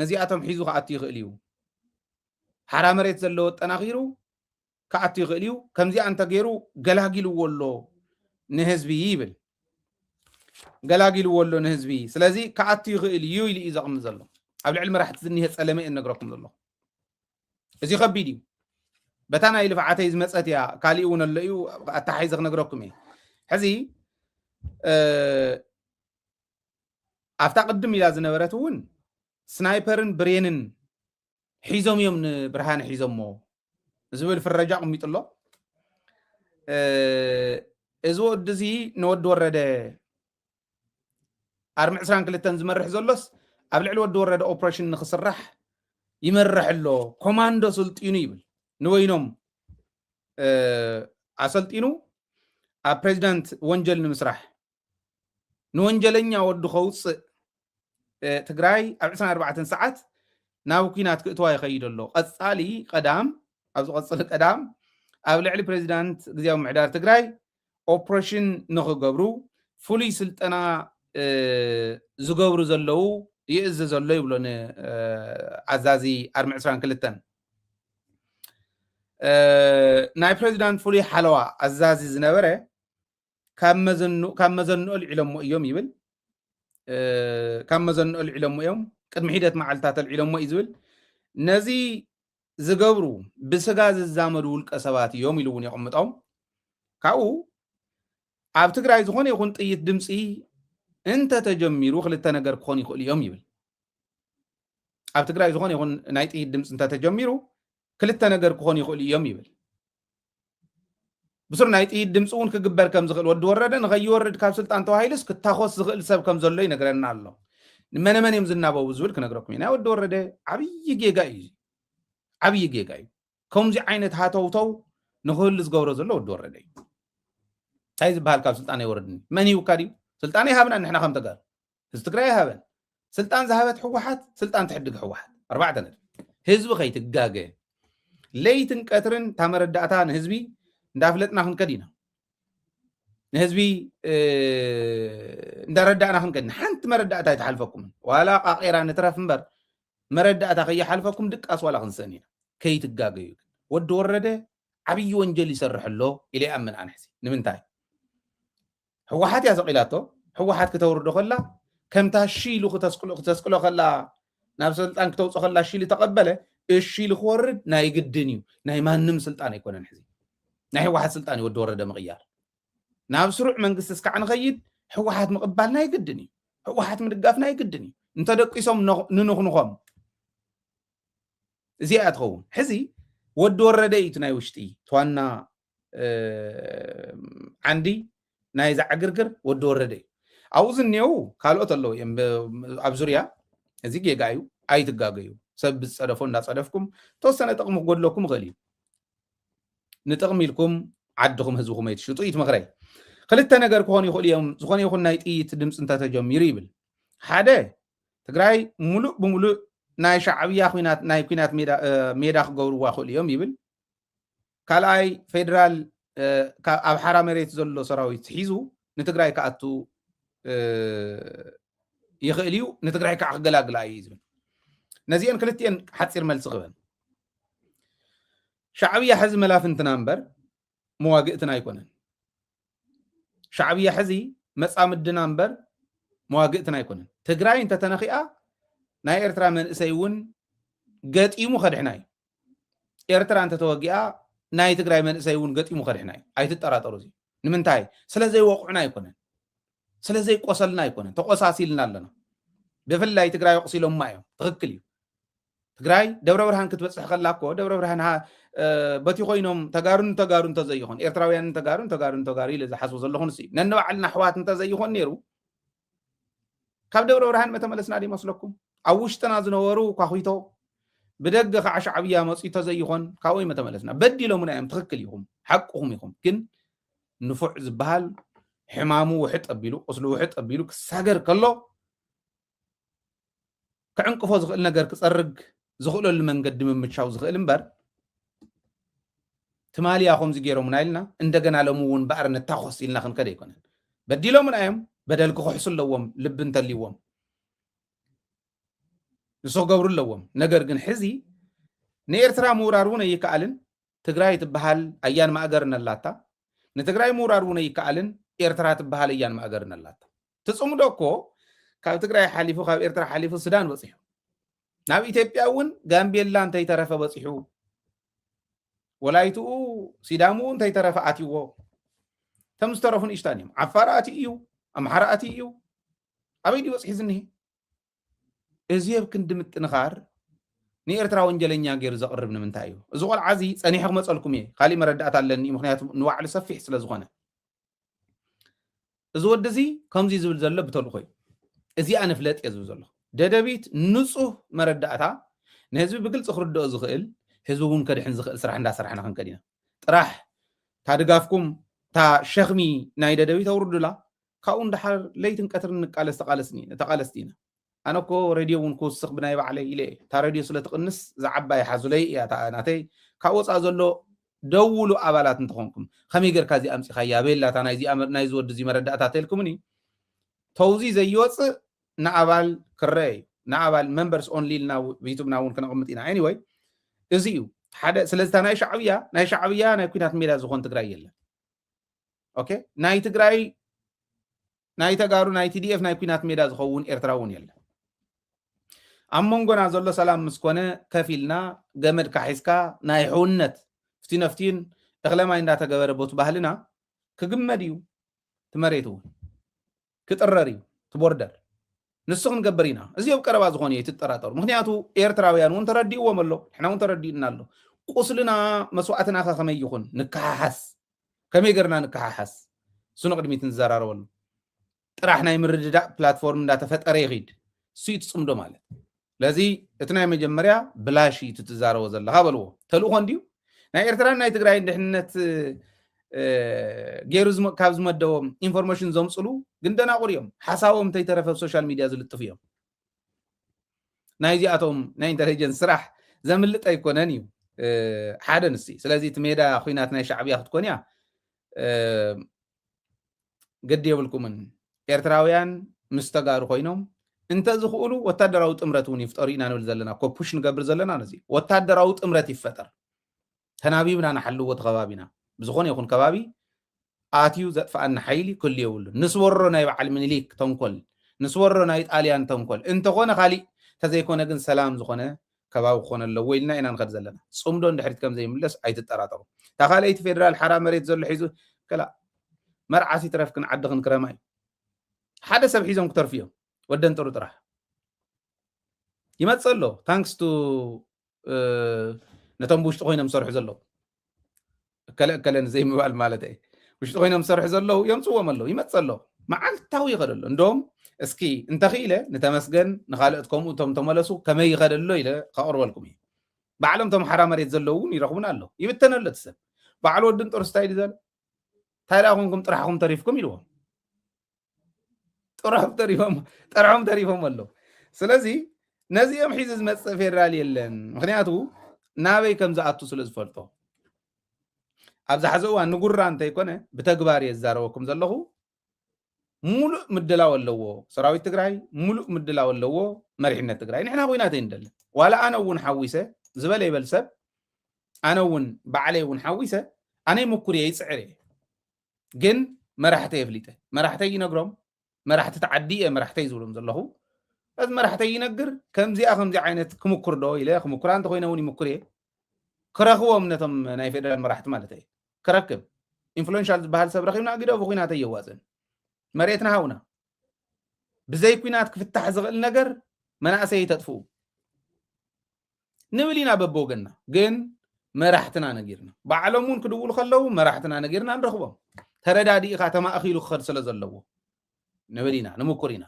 ነዚኣቶም ሒዙ ክኣቱ ይኽእል እዩ። ሓራ መሬት ዘለዎ ኣጠናኺሩ ክኣቱ ይኽእል እዩ። ከምዚኣ እንተገይሩ ገላጊልዎ ኣሎ ንህዝቢ ይብል። ገላጊልዎ ኣሎ ንህዝቢ ስለዚ ክኣቱ ይኽእል እዩ ኢሉ እዩ ዘቕምጥ ዘሎ። ኣብ ልዕሊ መራሕቲ ዝኒሀ ጸለመ እየ ነግረኩም ዘለኹ። እዚ ከቢድ እዩ። በታ ናይ ልፍዓተይ ዝመፀት እያ ካሊእ እውን ኣሎ እዩ ኣተሓሒዘ ክነግረኩም እየ ሕዚ ኣብታ ቅድም ኢላ ዝነበረት እውን ስናይፐርን ብሬንን ሒዞም እዮም ንብርሃነ ሒዞሞ ዝብል ፍረጃ ኣቕሚጡ ኣሎ እዚ ወዲ እዚ ንወዲ ወረደ ኣርሚ ዕስራን ክልተን ዝመርሕ ዘሎስ ኣብ ልዕሊ ወዲ ወረደ ኦፕሬሽን ንክስራሕ ይመርሕ ኣሎ ኮማንዶ ስልጢኑ ይብል ንበይኖም ኣሰልጢኑ ኣብ ፕሬዚዳንት ወንጀል ንምስራሕ ንወንጀለኛ ወዱ ከውፅእ ትግራይ ኣብ 24 ሰዓት ናብ ኩናት ክእትዋ ይኸይድ ኣሎ ቀፃሊ ቀዳም ኣብ ዝቐፅል ቀዳም ኣብ ልዕሊ ፕሬዚዳንት ግዜያዊ ምሕዳር ትግራይ ኦፕሬሽን ንክገብሩ ፍሉይ ስልጠና ዝገብሩ ዘለው ይእዝ ዘሎ ይብሎ ንኣዛዚ ኣርሚ 22 ናይ ፕሬዚዳንት ፍሉይ ሓለዋ ኣዛዚ ዝነበረ ካብ መዘንኦ ኣልዒሎሞ እዮም ይብል ካብ መዘንኦ ኣልዒሎሞ እዮም ቅድሚ ሒደት መዓልትታት ኣልዒሎሞ እዩ ዝብል ነዚ ዝገብሩ ብስጋ ዝዛመዱ ውልቀ ሰባት እዮም ኢሉ እውን የቕምጦም ካብኡ ኣብ ትግራይ ዝኾነ ይኹን ጥይት ድምፂ እንተተጀሚሩ ክልተ ነገር ክኾኑ ይኽእሉ እዮም ይብል ኣብ ትግራይ ዝኾነ ይኹን ናይ ጥይት ድምፂ እንተተጀሚሩ ክልተ ነገር ክኾኑ ይኽእሉ እዮም ይብል ብስሩ ናይ ጥይት ድምፂ እውን ክግበር ከም ዝኽእል ወዲ ወረደ ንኸይወርድ ካብ ስልጣን ተዋሂሉስ ክታኾስ ዝኽእል ሰብ ከም ዘሎ ይነግረና ኣሎ ንመነመን እዮም ዝናበቡ ዝብል ክነግረኩም እዩ ናይ ወዲ ወረደ ዓብዪ ጌጋ እዩ ዓብዪ ጌጋ እዩ ከምዚ ዓይነት ሃተውተው ንክህሉ ዝገብሮ ዘሎ ወዲ ወረደ እዩ እንታይ ዝበሃል ካብ ስልጣን ኣይወረድኒ መን ይውካ ድዩ ስልጣን ይሃብና ንሕና ከም ተጋሩ ህዝቢ ትግራይ ኣይሃበን ስልጣን ዝሃበት ሕወሓት ስልጣን ትሕድግ ሕወሓት ኣርባዕተ ነጥቢ ህዝቢ ከይትጋገ ለይትን ቀትርን እታ መረዳእታ ንህዝቢ እንዳፍለጥና ክንከድ ኢና ንህዝቢ እንዳረዳእና ክንከድ ሓንቲ መረዳእታ ኣይትሓልፈኩምን ዋላ ቃቂራ ንትረፍ እምበር መረዳእታ ከይሓልፈኩም ድቃስ ዋላ ክንስእን ኢና ከይትጋገዩ ወዲ ወረደ ዓብዪ ወንጀል ይሰርሕ ኣሎ ኢለ ይኣምን ኣነ ሕዚ ንምንታይ ሕወሓት እያ ሰቂላቶ ሕወሓት ክተውርዶ ከላ ከምታ እሺ ኢሉ ክተስቅሎ ከላ ናብ ስልጣን ክተውፅኦ ከላ እሺ ኢሉ ተቐበለ እሺ ኢሉ ክወርድ ናይ ግድን እዩ ናይ ማንም ስልጣን ኣይኮነን ሕዚ ናይ ሕወሓት ስልጣን እዩ ወዲ ወረደ ምቕያር ናብ ስሩዕ መንግስቲ እስካዕ ንኸይድ ሕወሓት ምቕባል ናይ ግድን እዩ ሕወሓት ምድጋፍ ናይ ግድን እዩ እንተደቂሶም ንንኹንኾም እዚኣ እያ ትኸውን ሕዚ ወዲ ወረደ እዩ እቲ ናይ ውሽጢ ተዋና ዓንዲ ናይዛ ዕግርግር ወዲ ወረደ እዩ ኣብኡ ዝኔው ካልኦት ኣለዉ እዮም ኣብ ዙርያ እዚ ጌጋ እዩ ኣይትጋገዩ ሰብ ብዝፀደፎ እንዳፀደፍኩም ተወሰነ ጥቕሚ ክጎድለኩም ይኽእል እዩ ንጥቕሚ ኢልኩም ዓድኹም ህዝብኹም ኣይትሽጡ እዩ ትመኽረይ ክልተ ነገር ክኾኑ ይኽእሉ እዮም ዝኾነ ይኹን ናይ ጥይት ድምፂ እንተተጀሚሩ ይብል ሓደ ትግራይ ሙሉእ ብሙሉእ ናይ ሻዕብያ ናይ ኩናት ሜዳ ክገብርዋ ክእሉ እዮም ይብል ካልኣይ ፌደራል ኣብ ሓራ መሬት ዘሎ ሰራዊት ሒዙ ንትግራይ ክኣቱ ይኽእል እዩ ንትግራይ ከዓ ክገላግላ እዩ ዝብል ነዚአን ክልትኤን ሓፂር መልሲ ክበን ሻዕብያ ሕዚ መላፍንትና እምበር መዋግእትና ኣይኮነን ሻዕብያ ሕዚ መፃምድና እምበር መዋግእትና ኣይኮነን ትግራይ እንተተነኺኣ ናይ ኤርትራ መንእሰይ እውን ገጢሙ ከድሕና እዩ ኤርትራ እንተተወጊኣ ናይ ትግራይ መንእሰይ እውን ገጢሙ ከድሕና እዩ ኣይትጠራጠሩ እዚ ንምንታይ ስለ ዘይወቕዑና ኣይኮነን ስለ ዘይቆሰልና ኣይኮነን ተቆሳሲልና ኣለና ብፍላይ ትግራይ ወቕሲሎማ እዮም ትክክል እዩ ትግራይ ደብረ ብርሃን ክትበፅሕ ከላ እኮ ደብረ ብርሃን በቲ ኮይኖም ተጋሩን ተጋሩ እንተዘይኾን ኤርትራውያንን ተጋሩን ተጋሩን ተጋሩ ኢለ ዝሓስቦ ዘለኹን ሲ ነንባዕልና ኣሕዋት እንተዘይኾን ነይሩ ካብ ደብረ ብርሃን መተመለስና ዶ ይመስለኩም ኣብ ውሽጥና ዝነበሩ ኳኺቶ ብደገ ከዓ ሻዕብያ መፅኡ ተዘይኾን ካብኡ መተመለስና በዲሎምና እዮም ትክክል ኢኹም ሓቅኹም ኢኹም ግን ንፉዕ ዝበሃል ሕማሙ ውሕጥ ኣቢሉ ቁስሉ ውሕጥ ኣቢሉ ክሳገር ከሎ ክዕንቅፎ ዝኽእል ነገር ክጸርግ ዝኽእለሉ መንገዲ ምምቻው ዝኽእል እምበር ትማሊ እያ ከምዚ ገይሮምና ኢልና እንደገና ሎሚ እውን ባዕሪ ንታኾስ ኢልና ክንከደ ኣይኮነን በዲሎምና እዮም በደል ክኽሕሱ ኣለዎም ልቢ እንተልዎም ንሱ ክገብሩ ኣለዎም ነገር ግን ሕዚ ንኤርትራ ምውራር እውን ኣይከኣልን ትግራይ ትበሃል ኣያን ማእገርን ኣላታ ንትግራይ ምውራር እውን ኣይከኣልን ኤርትራ ትበሃል ኣያን ማእገርን ኣላታ እቲ ፅምዶ እኮ ካብ ትግራይ ሓሊፉ ካብ ኤርትራ ሓሊፉ ሱዳን በፂሑ ናብ ኢትዮጵያ እውን ጋምቤላ እንተይተረፈ በፂሑ ወላይትኡ ሲዳምኡ እንተይተረፈ ኣትዎ እቶም ዝተረፉ ንእሽታን እዮም ዓፋር ኣትዩ እዩ ኣምሓራ ኣትዩ እዩ ኣበይ ድዩ በፅሒ ዝኒሄ እዚ ኣብ ክንዲ ምጥንኻር ንኤርትራ ወንጀለኛ ገይሩ ዘቕርብ ንምንታይ እዩ እዚ ቆልዓ እዚ ፀኒሐ ክመፀልኩም እየ ካሊእ መረዳእታ ኣለኒ ምክንያቱ ንባዕሉ ሰፊሕ ስለዝኾነ እዚ ወዲ እዚ ከምዚ ዝብል ዘሎ ብተልኾ እዩ እዚኣ ንፍለጥ እየ ዝብል ዘለኹ ደደቢት ንፁህ መረዳእታ ንህዝቢ ብግልፂ ክርድኦ ዝኽእል ህዝቢ እውን ከድሕን ዝኽእል ስራሕ እንዳሰራሕና ክንከድ ኢና ጥራሕ እታ ድጋፍኩም እታ ሸኽሚ ናይ ደደቢት ኣውርዱላ ካብኡ እንዳሓር ለይትን ቀትርን ንቃለስ ተቃለስኒ ተቃለስቲ ኢና ኣነ እኮ ረድዮ እውን ክውስኽ ብናይ ባዕለይ ኢለ እየ እታ ረድዮ ስለ ትቕንስ እዛ ዓባይ ሓዙለይ እያ እታ ናተይ ካብ ወፃእ ዘሎ ደውሉ ኣባላት እንተኾንኩም ከመይ ጌርካ እዚ ኣምፂኻያ ኣበየላ እታ ናይዚ ወዲ እዚ መረዳእታ ተልኩምኒ ተውዚ ዘይወፅእ ንኣባል ክረአ እዩ ንኣባል መንበርስ ኦንሊ ኢልና ዩቱብና እውን ክነቕምጥ ኢና ኤኒወይ እዚ እዩ ሓደ ስለዚ እታ ናይ ሻዕብያ ናይ ሻዕብያ ናይ ኩናት ሜዳ ዝኾን ትግራይ የለን ኦኬ ናይ ትግራይ ናይ ተጋሩ ናይ ቲዲኤፍ ናይ ኩናት ሜዳ ዝኸውን ኤርትራ እውን የለን ኣብ መንጎና ዘሎ ሰላም ምስ ኮነ ከፍ ኢልና ገመድ ካሒስካ ናይ ሕውነት ፍቲነፍቲን እኽለማይ እንዳተገበረ ቦቲ ባህልና ክግመድ እዩ እቲ መሬት እውን ክጥረር እዩ እቲ ቦርደር ንሱ ክንገብር ኢና እዚ ኣብ ቀረባ ዝኾነ እዩ ትጠራጠሩ ምክንያቱ ኤርትራውያን እውን ተረዲእዎም ኣሎ ንሕና እውን ተረዲኡና ኣሎ ቁስልና መስዋእትና ከ ከመይ ይኹን ንከሓሓስ ከመይ ገርና ንከሓሓስ እሱ ንቕድሚት ንዘራረበሉ ጥራሕ ናይ ምርድዳእ ፕላትፎርም እንዳተፈጠረ ይኺድ እሱ እዩ ትፅምዶ ማለት ስለዚ እቲ ናይ መጀመርያ ብላሽ እዩ ትዛረቦ ዘለካ በልዎ ተልእኮ እንድዩ ናይ ኤርትራን ናይ ትግራይን ድሕንነት ገይሩ ካብ ዝመደቦም ኢንፎርሜሽን ዘምፅሉ ግን ደናቑር እዮም ሓሳቦም እንተይተረፈ ብ ሶሻል ሚድያ ዝልጥፉ እዮም ናይዚኣቶም ናይ ኢንተለጀንስ ስራሕ ዘምልጥ ኣይኮነን እዩ ሓደ ንሲ ስለዚ እቲ ሜዳ ኩናት ናይ ሻዕብያ ክትኮን እያ ገዲ የብልኩምን ኤርትራውያን ምስ ተጋሩ ኮይኖም እንተዝኽእሉ ወታደራዊ ጥምረት እውን ይፍጠሩ ኢና ንብል ዘለና ኮፑሽ ንገብር ዘለና ነዚ ወታደራዊ ጥምረት ይፈጠር ተናቢብና ንሓልዎ እቲ ከባቢና ብዝኾነ ይኹን ከባቢ ኣትዩ ዘጥፍኣና ሓይሊ ክህሉ የብሉን ንስወሮ ናይ በዓል ምኒሊክ ተንኮል ንስወሮ ናይ ጣልያን ተንኮል እንተኾነ ካሊእ ተዘይኮነ ግን ሰላም ዝኾነ ከባቢ ክኾነ ኣለዎ ኢልና ኢና ንኸድ ዘለና ፅምዶ ንድሕሪት ከም ዘይምለስ ኣይትጠራጠሩ እታ ካልኣይቲ ፌደራል ሓራ መሬት ዘሎ ሒዙ ከላ መርዓት ይትረፍክን ዓድኽን ክረማ እዩ ሓደ ሰብ ሒዞም ክተርፉ እዮም ወደን ጥሩ ጥራሕ ይመፅእ ኣሎ ታንክስ ቱ ነቶም ብውሽጢ ኮይኖም ዝሰርሑ ዘለዉ እከለ እከለ ንዘይምባል ማለት እየ ውሽጢ ኮይኖም ዝሰርሑ ዘለዉ የምፅዎም ኣለዉ ይመፅ ኣሎ መዓልታዊ ይኸደ ኣሎ እንደም እስኪ እንተኽኢለ ንተመስገን ንካልኦት ከምኡ እቶም ተመለሱ ከመይ ይኸደ ኣሎ ኢለ ከቕርበልኩም እዩ ባዕሎም እቶም ሓራ መሬት ዘለዉ እውን ይረኽቡን ኣሎ ይብተነ ኣሎ እቲ ሰብ ባዕሉ ወድን ጦርስ እንታይ ኢሉ ዘሎ እንታይ ደኣ ኮንኩም ጥራሕኹም ተሪፍኩም ኢልዎም ጥርሖም ተሪፎም ጠርሖም ተሪፎም ኣለዉ ስለዚ ነዚኦም ሒዚ ዝመፅእ ፌደራል የለን ምክንያቱ ናበይ ከም ዝኣቱ ስለ ዝፈልጦ ኣብዚ ሓዚ እዋን ንጉራ እንተይኮነ ብተግባር እየ ዝዛረበኩም ዘለኹ ሙሉእ ምድላው ኣለዎ ሰራዊት ትግራይ ሙሉእ ምድላው ኣለዎ መሪሕነት ትግራይ ንሕና ኩናት ይንደለ ዋላ ኣነ እውን ሓዊሰ ዝበለ ይበል ሰብ ኣነ እውን ባዕለይ እውን ሓዊሰ ኣነይ ምኩር እየ ይፅዕር እየ ግን መራሕተይ ኣፍሊጠ መራሕተይ ይነግሮም መራሕቲ ተዓዲ እየ መራሕተይ ዝብሎም ዘለኹ እዚ መራሕተይ ይነግር ከምዚኣ ከምዚ ዓይነት ክምኩር ዶ ኢለ ክምኩራ እንተኮይነ እውን ይምኩር እየ ክረኽቦም ነቶም ናይ ፌደራል መራሕቲ ማለት እየ ክረክብ ኢንፍሉንሻል ዝበሃል ሰብ ረኪብና ግደ ብኩናት ኣየዋፅን መሬትና ሃውና ብዘይ ኩናት ክፍታሕ ዝኽእል ነገር መናእሰይ ተጥፍኡ ንብል ኢና በብወገንና ግን መራሕትና ነጊርና ባዕሎም እውን ክድውሉ ከለው መራሕትና ነጊርና ንረኽቦም ተረዳዲእኻ ተማእኺሉ ክኸድ ስለ ዘለዎ ንብል ኢና ንምኩር ኢና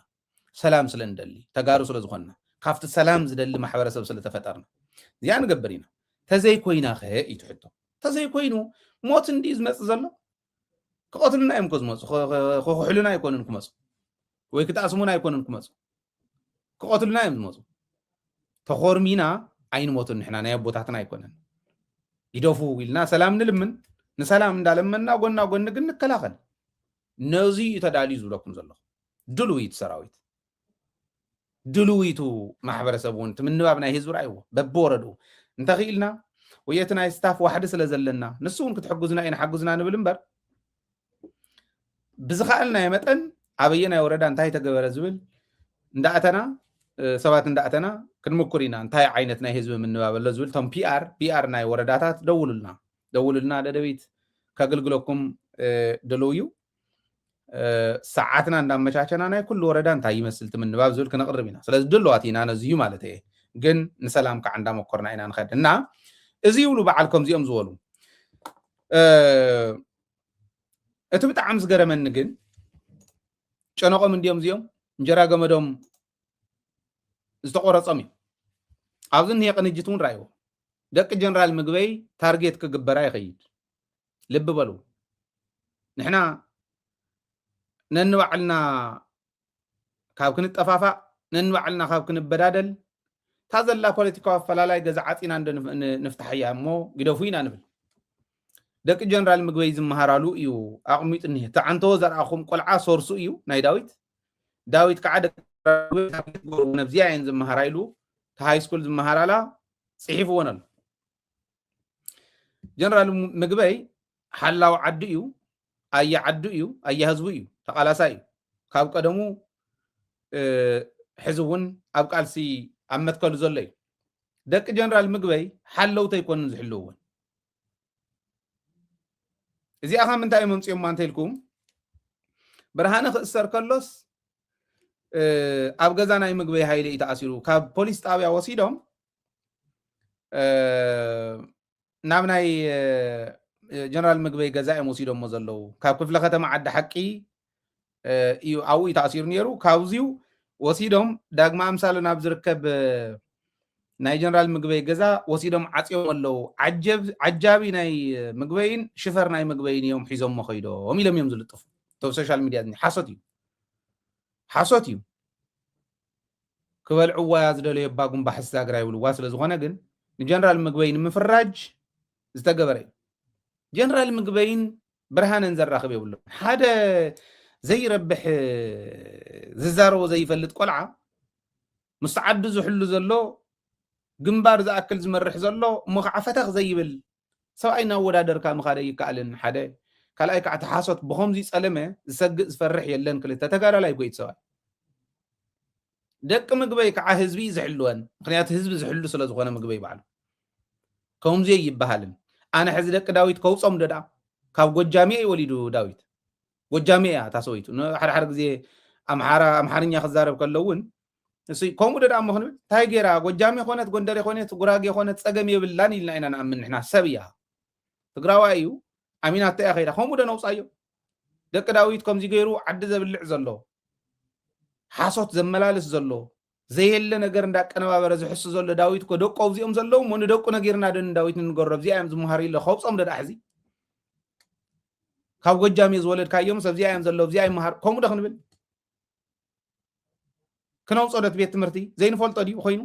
ሰላም ስለ ንደሊ ተጋሩ ስለ ዝኾንና ካብቲ ሰላም ዝደሊ ማሕበረሰብ ስለ ተፈጠርና እዚኣ ንገብር ኢና ተዘይኮይና ኸ እዩ ትሕቶ ተዘይኮይኑ ሞት እንዲ ዝመፅእ ዘሎ ክቐትሉና እዮም እኮ ዝመፁ ክኽሕሉና ኣይኮኑን ክመፁ ወይ ክጣስሙና ኣይኮኑን ክመፁ ክቐትሉና እዮም ዝመፁ ተኾርሚና ኣይንሞቱን ንሕና ናይ ኣቦታትና ኣይኮነን ይደፉ ኢልና ሰላም ንልምን ንሰላም እንዳለመና ጎና ጎኒ ግን ንከላኸል ነዚ እዩ ተዳልዩ ዝብለኩም ዘለኹ ድልውይት ሰራዊት ድልውይቱ ማሕበረሰብ እውን እቲ ምንባብ ናይ ህዝቢ ርኣይዎ በብወረድኡ እንተኽኢልና ወየቲ ናይ ስታፍ ዋሕዲ ስለ ዘለና ንሱ እውን ክትሕግዙና እዩ ንሓግዙና ንብል እምበር ብዝኸኣልናዮ መጠን ኣበየናይ ወረዳ እንታይ ተገበረ ዝብል እንዳእተና ሰባት እንዳእተና ክንምኩር ኢና እንታይ ዓይነት ናይ ህዝቢ ምንባብ ኣሎ ዝብል እቶም ፒኣር ፒኣር ናይ ወረዳታት ደውሉልና ደውሉልና ደደቢት ከገልግለኩም ደለው እዩ ሰዓትና እንዳመቻቸና ናይ ኩሉ ወረዳ እንታይ ይመስል ትምንባብ ዝብል ክነቕርብ ኢና ስለዚ ድለዋት ኢና ነዚዩ ማለት እየ ግን ንሰላም ከዓ እንዳመኮርና ኢና ንኸድ እና እዚ ይብሉ በዓል ከምዚኦም ዝበሉ እቲ ብጣዕሚ ዝገረመኒ ግን ጨነቆም እንዲዮም እዚኦም እንጀራ ገመዶም ዝተቆረፆም እዩ ኣብዚ እኒሄ ቅንጅት እውን ራእይዎ ደቂ ጀነራል ምግበይ ታርጌት ክግበራ ይኸይድ ልቢ በሉ ንሕና ነንባዕልና ካብ ክንጠፋፋእ ነንባዕልና ካብ ክንበዳደል እታ ዘላ ፖለቲካዊ ኣፈላላይ ገዛ ዓፂና እንዶ ንፍታሓያ እሞ ግደፉ ኢና ንብል ደቂ ጀነራል ምግበይ ዝመሃራሉ እዩ ኣቕሚጡ እኒሀ እቲ ዓንተዎ ዘርኣኹም ቆልዓ ሶርሱ እዩ ናይ ዳዊት ዳዊት ከዓ ደቂ ነብዚያ እየን ዝመሃራ ኢሉ እቲ ሃይስኩል ዝመሃራላ ፅሒፍዎን ኣሎ ጀነራል ምግበይ ሓላው ዓዱ እዩ ኣያ ዓዱ እዩ ኣያ ህዝቡ እዩ ተቃላሳ እዩ ካብ ቀደሙ ሕዚ እውን ኣብ ቃልሲ ኣብ መትከሉ ዘሎ እዩ ደቂ ጀነራል ምግበይ ሓለውቲ ኣይኮንን ዝሕልውዎን እዚኣ ካብ ምንታይ እዮም ኣምፅኦማ እንተኢልኩም ብርሃነ ክእሰር ከሎስ ኣብ ገዛ ናይ ምግበይ ሃይለ እዩ ተኣሲሩ ካብ ፖሊስ ጣብያ ወሲዶም ናብ ናይ ጀነራል ምግበይ ገዛ እዮም ወሲዶሞ ዘለዉ ካብ ክፍለ ከተማ ዓዲ ሓቂ እዩ ኣብኡ እዩ ተኣሲሩ ነይሩ ካብዚዩ ወሲዶም ዳግማ ኣምሳሉ ናብ ዝርከብ ናይ ጀነራል ምግበይ ገዛ ወሲዶም ዓፅዮም ኣለዉ ዓጃቢ ናይ ምግበይን ሽፈር ናይ ምግበይን እዮም ሒዞሞ ከይዶም ኢሎም እዮም ዝልጥፉ ብ ሶሻል ሚድያ ሓሶት እዩ ሓሶት እዩ ክበልዕዎ'ያ ዝደለዩ እባ ጉምባ ሕስያ ግራ ይብልዋ ስለ ዝኾነ ግን ንጀነራል ምግበይ ንምፍራጅ ዝተገበረ እዩ። ጀነራል ምግበይን ብርሃነን ዘራኽብ የብሉን። ሓደ ዘይረብሕ ዝዛረቦ ዘይፈልጥ ቆልዓ ምስ ዓዱ ዝሕሉ ዘሎ ግንባር ዝኣክል ዝመርሕ ዘሎ እሞ ከዓ ፈተኽ ዘይብል ሰብኣይ እናወዳደርካ ምኻድ ኣይከኣልን ሓደ ካልኣይ ካዓ እቲ ሓሶት ብኸምዙይ ፀለመ ዝሰግእ ዝፈርሕ የለን ክልተ ተጋዳላይ እኮ እዩ እቲ ሰብኣይ ደቂ ምግበይ ካዓ ህዝቢ እዩ ዝሕልወን ምኽንያቱ ህዝቢ ዝሕሉ ስለ ዝኾነ ምግበይ ባዕሉ ከምዙይ ኣይበሃልን ኣነ ሕዚ ደቂ ዳዊት ከውፆም ዶ ዳኣ ካብ ጎጃሜ እዩ ወሊዱ ዳዊት ጎጃሜ እያ እታ ሰበይቱ ሓደ ሓደ ግዜ ኣምሓራ ኣምሓርኛ ክዛረብ ከሎ እውን እሱይ ከምኡ ዶ እሞ ክንብል እንታይ ገይራ ጎጃሜ ኮነት ጎንደሬ ኮነት ጉራጌ ኮነት ፀገም የብላን ኢልና ኢና ንኣምን ንሕና ሰብ እያ ትግራዋይ እዩ ኣሚናቶ እያ ከይዳ ከምኡ ዶ ነውፃዮ ደቂ ዳዊት ከምዚ ገይሩ ዓዲ ዘብልዕ ዘሎ ሓሶት ዘመላልስ ዘሎ ዘየለ ነገር እንዳቀነባበረ ዝሕሱ ዘሎ ዳዊት እኮ ደቁ ኣብዚኦም ዘለዉ እሞ ንደቁ ነጊርና ዶ ንዳዊት ንንገሮ ኣብዚኣ እዮም ዝመሃሩ ኢለ ከውፆም ደዳ ሕዚ ካብ ጎጃም እየ ዝወለድካዮም ሰብዚኣ እዮም ዘለዉ ኣብዚኣ ይመሃር ከምኡ ዶ ክንብል ክነውፅኦ ዶ እቲ ቤት ትምህርቲ ዘይንፈልጦ ድዩ ኮይኑ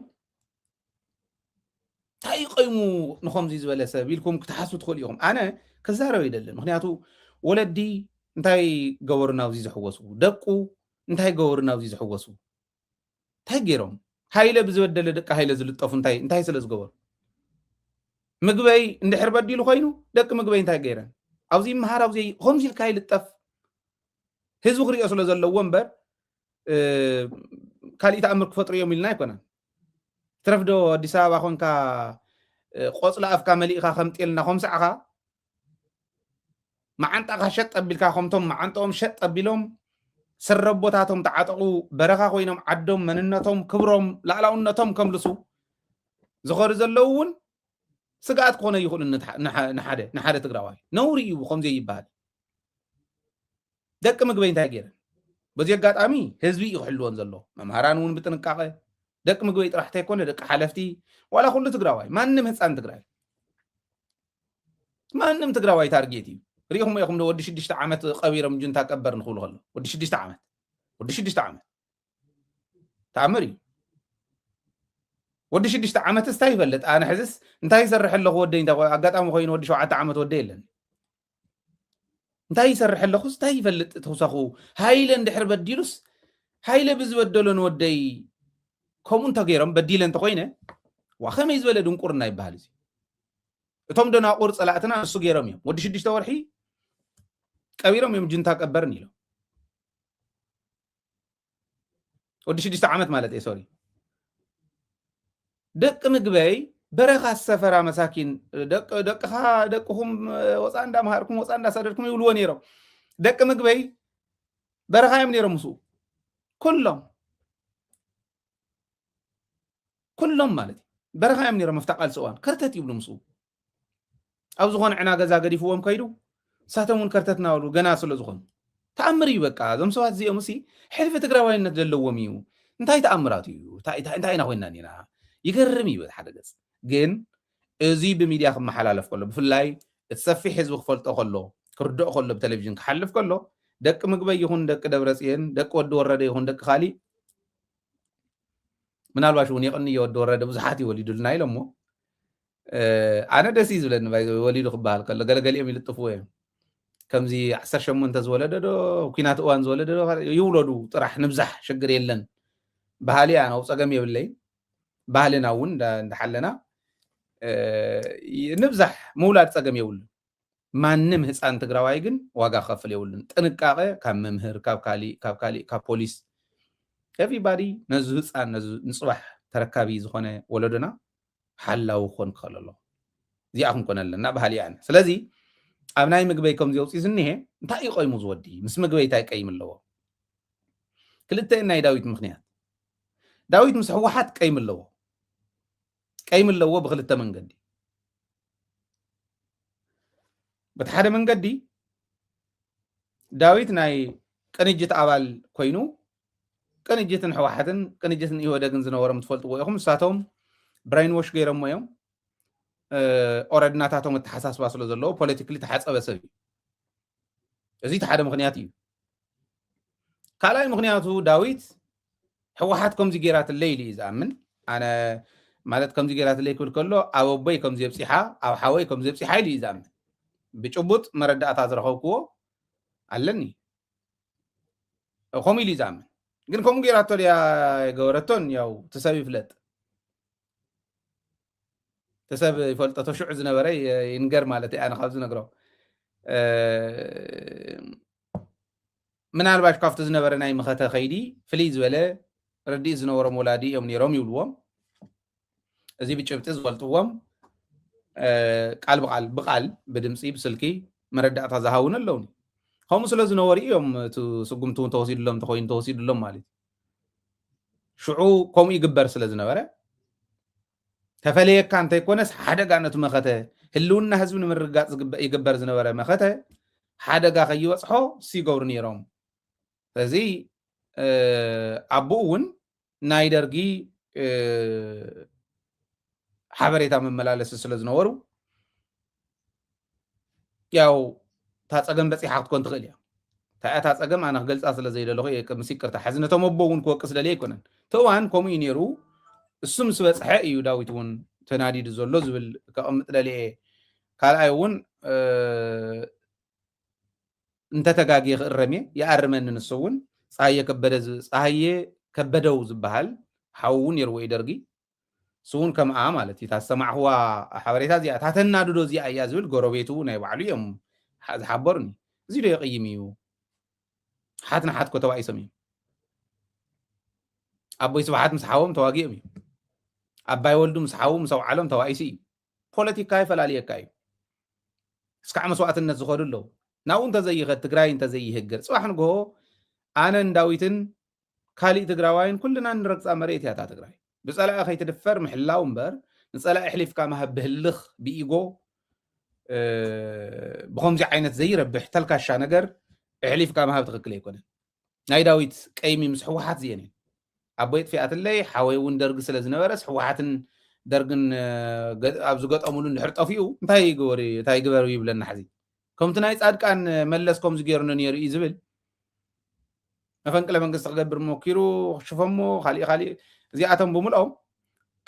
እንታይ እዩ ቀይሙ ንከምዚ ዝበለ ሰብ ኢልኩም ክትሓስቡ ትኽእሉ ኢኹም ኣነ ክዛረብ ኣይደልን ምክንያቱ ወለዲ እንታይ ገበሩ ናብዚ ዝሕወሱ ደቁ እንታይ ገበሩ ናብዚ ዝሕወሱ እንታይ ገይሮም ሃይለ ብዝበደለ ደቂ ሃይለ ዝልጠፉ እንታይ እንታይ ስለ ዝገበሩ ምግበይ እንድሕር በዲሉ ኮይኑ ደቂ ምግበይ እንታይ ገይረን ኣብዚ ይምሃር ኣብዚ ከምዚ ኢልካ ይልጠፍ ህዝቢ ክሪኦ ስለ ዘለዎ እምበር ካሊእ ተኣምር ክፈጥሩ እዮም ኢልና ኣይኮነን ትረፍ ዶ ኣዲስ ኣበባ ኮንካ ቆፅሊ ኣፍካ መሊእካ ከም ጤልና ከም ሰዕኻ መዓንጣኻ ሸጥ ኣቢልካ ከምቶም መዓንጠኦም ሸጥ ኣቢሎም ሰረቦታቶም ተዓጠቑ በረኻ ኮይኖም ዓዶም መንነቶም ክብሮም ላእላውነቶም ከምልሱ ዝኸዱ ዘለዉ እውን ስግኣት ክኾነ ይኽእሉ ንሓደ ትግራዋይ ነውሪ እዩ ከምዘይ ይበሃል ደቂ ምግበይ እንታይ ገይረን በዚ ኣጋጣሚ ህዝቢ እዩ ክሕልወን ዘሎ መምሃራን እውን ብጥንቃቐ ደቂ ምግበይ ጥራሕ እንተይኮነ ደቂ ሓለፍቲ ዋላ ኩሉ ትግራዋይ ማንም ህፃን ትግራይ ማንም ትግራዋይ ታርጌት እዩ ሪኢኹም ኢኹም ዶ ወዲ ሽዱሽተ ዓመት ቀቢሮም ጁንታ ቀበር ንክብሉ ከሎ ወዲ ሽዱሽተ ዓመት ወዲ ሽዱሽተ ዓመት ተኣምር እዩ ወዲ ሽዱሽተ ዓመትስ እንታይ ይፈልጥ ኣነ ሕዝስ እንታይ ይሰርሕ ኣለኹ ወደይ እንታይ ኣጋጣሚ ኮይኑ ወዲ ሸውዓተ ዓመት ወደ የለን እንታይ ይሰርሕ ኣለኹስ እንታይ ይፈልጥ ተውሳኹ ሃይለ እንድሕር በዲሉስ ሃይለ ብዝበደሎ ንወደይ ከምኡ እንተገይሮም በዲለ እንተኮይነ ዋ ከመይ ዝበለ ድንቁርና ይበሃል እዚ እቶም ደናቁር ፀላእትና ንሱ ገይሮም እዮም ወዲ ሽዱሽተ ወርሒ ቀቢሮም እዮም ጅንታ ቀበርን ኢሎም ወዲ ሽዱሽተ ዓመት ማለት እየ ሶሪ ደቂ ምግበይ በረኻ ሰፈራ መሳኪን ደቅኻ ደቅኹም ወፃእ እንዳምሃርኩም ወፃእ እንዳሳደድኩም ይብልዎ ነይሮም ደቂ ምግበይ በረኻ እዮም ነይሮም ምስኡ ኩሎም ኩሎም ማለት እዩ በረኻ እዮም ነይሮም ኣብታ ቃልሲ እዋን ከርተት ይብሉ ምስኡ ኣብ ዝኾነ ዕና ገዛ ገዲፍዎም ከይዱ ንሳቶም እውን ከርተት እናበሉ ገና ስለ ዝኾኑ ተኣምር እዩ በቃ እዞም ሰባት እዚኦም ሲ ሕልፊ ትግራዋይነት ዘለዎም እዩ እንታይ ተኣምራት እዩ እንታይ ኢና ኮይና ኒና ይገርም እዩ ሓደ ገፅ ግን እዚ ብሚድያ ክመሓላለፍ ከሎ ብፍላይ እቲ ሰፊሕ ህዝቢ ክፈልጦ ከሎ ክርድኦ ከሎ ብቴሌቭዥን ክሓልፍ ከሎ ደቂ ምግበይ ይኹን ደቂ ደብረፅየን ደቂ ወዲ ወረደ ይኹን ደቂ ካሊእ ምናልባሽ እውን የቕንዮ ወዲ ወረደ ብዙሓት ይወሊዱልና ኢሎሞ ኣነ ደስ እዩ ዝብለኒ ባይ ወሊዱ ክበሃል ከሎ ገለገሊኦም ይልጥፍዎ እዮም ከምዚ ዓሰርተ ሸሞንተ ዝወለደ ዶ ኩናት እዋን ዝወለደ ዶ ይውለዱ ጥራሕ ንብዛሕ ሽግር የለን ባህሊ ኣነ ፀገም የብለይ ባህልና እውን እንዳሓለና ንብዛሕ ምውላድ ፀገም የብሉ ማንም ህፃን ትግራዋይ ግን ዋጋ ክኸፍል የብሉን ጥንቃቐ ካብ መምህር ካብ ካሊእ ካብ ካሊእ ካብ ፖሊስ ኤቭሪባዲ ነዚ ህፃን ነዚ ንፅባሕ ተረካቢ ዝኾነ ወለዶና ሓላዊ ክኾን ክኸእል ኣለዎ እዚኣ ክንኮነ ኣለና በሃሊ እየ ኣነ ስለዚ ኣብ ናይ ምግበይ ከምዚ ኣውፅኡ ዝኒሀ እንታይ እዩ ቆይሙ ዝወዲ ምስ ምግበይ እንታይ ቀይም ኣለዎ ክልተ ናይ ዳዊት ምክንያት ዳዊት ምስ ህወሓት ቀይም ኣለዎ ቀይም ኣለዎ ብክልተ መንገዲ በቲ ሓደ መንገዲ ዳዊት ናይ ቅንጅት ኣባል ኮይኑ ቅንጅትን ሕዋሓትን ቅንጅትን ኢህወደግን ዝነበሮም ትፈልጥዎ ኢኹም ንሳቶም ብሬን ዎሽ ገይሮሞ እዮም ኦረድ ናታቶም ኣተሓሳስባ ስለ ዘለዎ ፖለቲክሊ ተሓፀበ ሰብ እዩ እዚ እቲ ሓደ ምክንያት እዩ ካልኣይ ምክንያቱ ዳዊት ሕወሓት ከምዚ ገይራትለይ ኢሉ እዩ ዝኣምን ኣነ ማለት ከምዚ ገይራትለይ ክብል ከሎ ኣብ ኣቦይ ከም ዘብፂሓ ኣብ ሓወይ ከም ዘብፂሓ ኢሉ እዩ ዝኣምን ብጭቡጥ መረዳእታ ዝረኸብክዎ ኣለኒ ከምኡ ኢሉ እዩ ዝኣምን ግን ከምኡ ገይራቶ ድያ ገበረቶን ያው ትሰብ ይፍለጥ ትሰብ ይፈልጦ ተሽዑ ዝነበረ ይንገር ማለት እዩ ኣነ ካብ ዝነግሮ ምናልባሽ ካብቲ ዝነበረ ናይ መኸተ ከይዲ ፍልይ ዝበለ ረድእ ዝነበሮም ወላዲ እዮም ነይሮም ይብልዎም እዚ ብጭብጢ ዝፈልጥዎም ቃል ብቃል ብቃል ብድምፂ ብስልኪ መረዳእታ ዝሃውን ኣለውኒ ከምኡ ስለ ዝነበሩ እዮም እቲ ስጉምቲ እውን ተወሲድሎም እንተኮይኑ ተወሲድሎም ማለት እዩ ሽዑ ከምኡ ይግበር ስለ ዝነበረ ተፈለየካ እንተይኮነስ ሓደጋ ነቲ መኸተ ህልውና ህዝቢ ንምርግጋፅ ይግበር ዝነበረ መኸተ ሓደጋ ከይበፅሖ ሲገብሩ ነይሮም ስለዚ ኣቦኡ እውን ናይ ደርጊ ሓበሬታ መመላለሲ ስለ ዝነበሩ ያው እታ ፀገም በፂሓ ክትኮን ትኽእል እያ እንታይ እያ እታ ፀገም ኣነ ክገልፃ ስለ ዘይደለኹ እየ ምስ ይቅርታ ሕዚ ነቶም ኣቦ እውን ክወቅስ ደልየ ኣይኮነን እቲ እዋን ከምኡ እዩ ነይሩ እሱ ምስ በፅሐ እዩ ዳዊት እውን ተናዲዱ ዘሎ ዝብል ከቕምጥ ደልየ እየ ካልኣይ እውን እንተ ተጋግየ ክእረም እየ ይኣርመኒ ንሱ ውን ጸሃየ ከበደ ጸሃየ ከበደው ዝብሃል ሓው ውን ኔርዎ እዩ ደርጊ ንሱ ውን ከምኣ ማለት እዩ እታ ዝሰማዕክዋ ሓበሬታ እዚኣ እታ ተናድዶ እዚኣ እያ ዝብል ጎረቤቱ ናይ ባዕሉ እዮም ዝሓበሩኒ እዚ ዶ የቕይም እዩ ሓት ንሓት ኮ ተባኢሶም እዮም ኣቦይ ስብሓት ምስ ሓዎም ተዋጊኦም እዩ ኣባይ ወልዱ ምስ ሓዉ ምስ ኣውዓሎም ተባኢሱ እዩ ፖለቲካ ይፈላልየካ እዩ። እስካዕ መስዋእትነት ዝኸዱ ኣለዉ። ናብኡ እንተዘይኸድ ትግራይ እንተዘይህገር ፅባሕ ንግሆ ኣነን ዳዊትን ካሊእ ትግራዋይን ኩልና ንረግፃ መሬት እያ እታ ትግራይ። ብፀላኢ ከይትድፈር ምሕላው እምበር ንፀላኢ ኣሕሊፍካ ምሃብ ብህልኽ ብኢጎ ብከምዚ ዓይነት ዘይረብሕ ተልካሻ ነገር ኣሕሊፍካ ምሃብ ትክክል ኣይኮነን። ናይ ዳዊት ቀይሚ ምስ ሕወሓት ዝየን እዩ ኣቦይ ጥፊኣትለይ ሓወይ እውን ደርጊ ስለ ዝነበረስ ሕወሓትን ደርግን ኣብ ዝገጠሙሉ እንድሕር ጠፊኡ እንታይ ይግበሩ እንታይ ይግበሩ ይብለና ሕዚ ከምቲ ናይ ፃድቃን መለስ ከምዚ ገይሩኒ ነይሩ እዩ ዝብል መፈንቅለ መንግስቲ ክገብር ሞኪሩ ክሽፈሞ ካሊእ ካሊእ እዚኣቶም ብምልኦም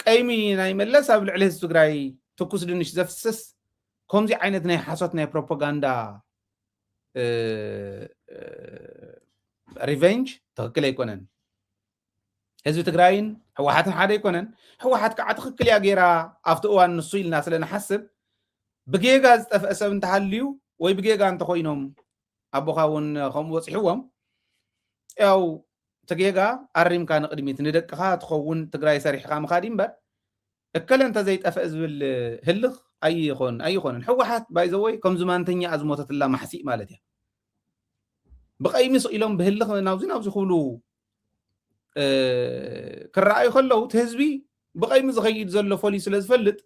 ቀይሚ ናይ መለስ ኣብ ልዕሊ ህዝቢ ትግራይ ትኩስ ድንሽ ዘፍስስ ከምዚ ዓይነት ናይ ሓሶት ናይ ፕሮፓጋንዳ ሪቨንጅ ትክክል ኣይኮነን ህዝቢ ትግራይን ህወሓትን ሓደ ኣይኮነን ህወሓት ከዓ ትክክል እያ ገይራ ኣብቲ እዋን ንሱ ኢልና ስለ ንሓስብ ብጌጋ ዝጠፍአ ሰብ እንተሃልዩ ወይ ብጌጋ እንተኮይኖም ኣቦካ እውን ከምኡ በፂሕዎም ያው እቲ ጌጋ ኣሪምካ ንቅድሚት ንደቅካ ትኸውን ትግራይ ሰሪሕካ ምካድ እምበር እከለ እንተዘይጠፈእ ዝብል ህልኽ ኣይኾን ኣይኾንን ሕወሓት ባይ ዘወይ ከም ዝማንተኛኣ ዝሞተትላ ማሕሲእ ማለት እያ ብቐይሚ ስቕ ኢሎም ብህልኽ ናብዚ ናብዚ ክብሉ ክረኣዩ ከለዉ እቲ ህዝቢ ብቐይሚ ዝኸይድ ዘሎ ፈልዩ ስለ ዝፈልጥ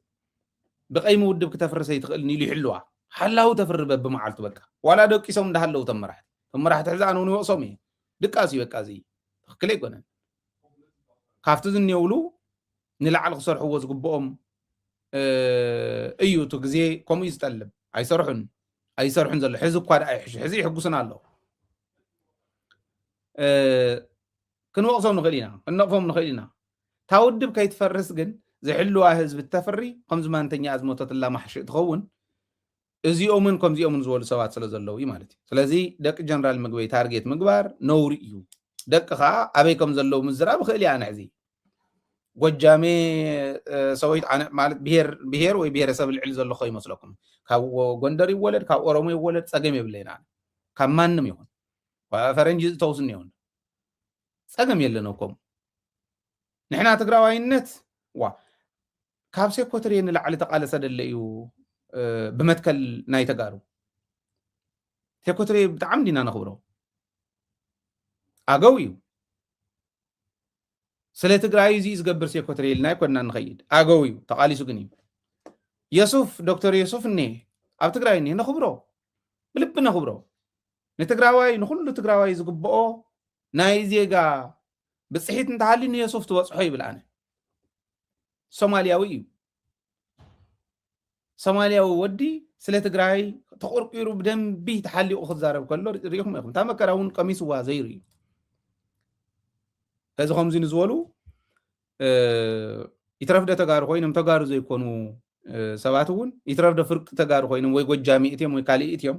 ብቐይሚ ውድብ ክተፍርስ ኣይትኽእልን ኢሉ ይሕልዋ ሓላዊ ተፍሪ በብመዓልቱ በቃ ዋላ ደቂሶም እንዳሃለዉ ተመራሕቲ ተመራሕቲ ሕዚ ኣነ እውን ይወቕሶም እየ ድቃስ እዩ በቃ እዚ ትኽክል ኣይኮነን ካብቲ ዝኔውሉ ንላዕሊ ክሰርሕዎ ዝግብኦም እዩ እቲ ግዜ ከምኡ እዩ ዝጠልብ ኣይሰርሑን ኣይሰርሑን ዘሎ ሕዚ እኳ ደኣ ይሕሹ ሕዚ ይሕጉስና ኣለዉ ክንወቕሶም ንኽእል ኢና ክንነቕፎም ንኽእል ኢና እታ ውድብ ከይትፈርስ ግን ዝሕልዋ ህዝቢ እተፍሪ ከምዚ ማንተኛ ዝሞተትላ ማሕሽእ ትኸውን እዚኦምን ከምዚኦምን ዝበሉ ሰባት ስለ ዘለዉ እዩ ማለት እዩ ስለዚ ደቂ ጀነራል ምግበይ ታርጌት ምግባር ነውሪ እዩ ደቂ ከዓ ኣበይ ከም ዘለዉ ምዝራብ ይኽእል እያ ንሕዚ ጎጃሜ ሰወይት ኣነ ማለት ብሄር ብሄር ወይ ብሄረሰብ ልዕሊ ዘሎ ከ ይመስለኩም ካብ ጎንደር ይወለድ ካብ ኦሮሞ ይወለድ ፀገም የብለይን ኣነ ካብ ማንም ይኹን ፈረንጂ ዝተውስኒ ይኹን ፀገም የለን ከምኡ ንሕና ትግራዋይነት ዋ ካብ ሴኮትርየ ንላዕሊ ተቃለሰ ደለ እዩ ብመትከል ናይ ተጋሩ ሴኮትርየ ብጣዕሚ ዲና ነኽብሮ ኣገው እዩ ስለ ትግራይ እዚ ዝገብር ሴኮትሪ ኢልና ይኮንና ንኸይድ ኣገው እዩ ተቃሊሱ ግን እዩ የሱፍ ዶክተር የሱፍ እኒ ኣብ ትግራይ እኒ ነኽብሮ ብልቢ ነኽብሮ ንትግራዋይ ንኩሉ ትግራዋይ ዝግብኦ ናይ ዜጋ ብፅሒት እንተሃልዩ ንየሱፍ ትበፅሖ ይብል ኣነ ሶማልያዊ እዩ ሶማልያዊ ወዲ ስለ ትግራይ ተቆርቂሩ ብደንቢ ተሓሊቑ ክዛረብ ከሎ ሪኢኹም ኢኹም እታ መከራ እውን ቀሚስዋ ዘይሩ እዩ እዚ ከምዚ ንዝበሉ ይትረፍደ ተጋሩ ኮይኖም ተጋሩ ዘይኮኑ ሰባት እውን ይትረፍደ ፍርቂ ተጋሩ ኮይኖም ወይ ጎጃሚ እትዮም ወይ ካልእ እትዮም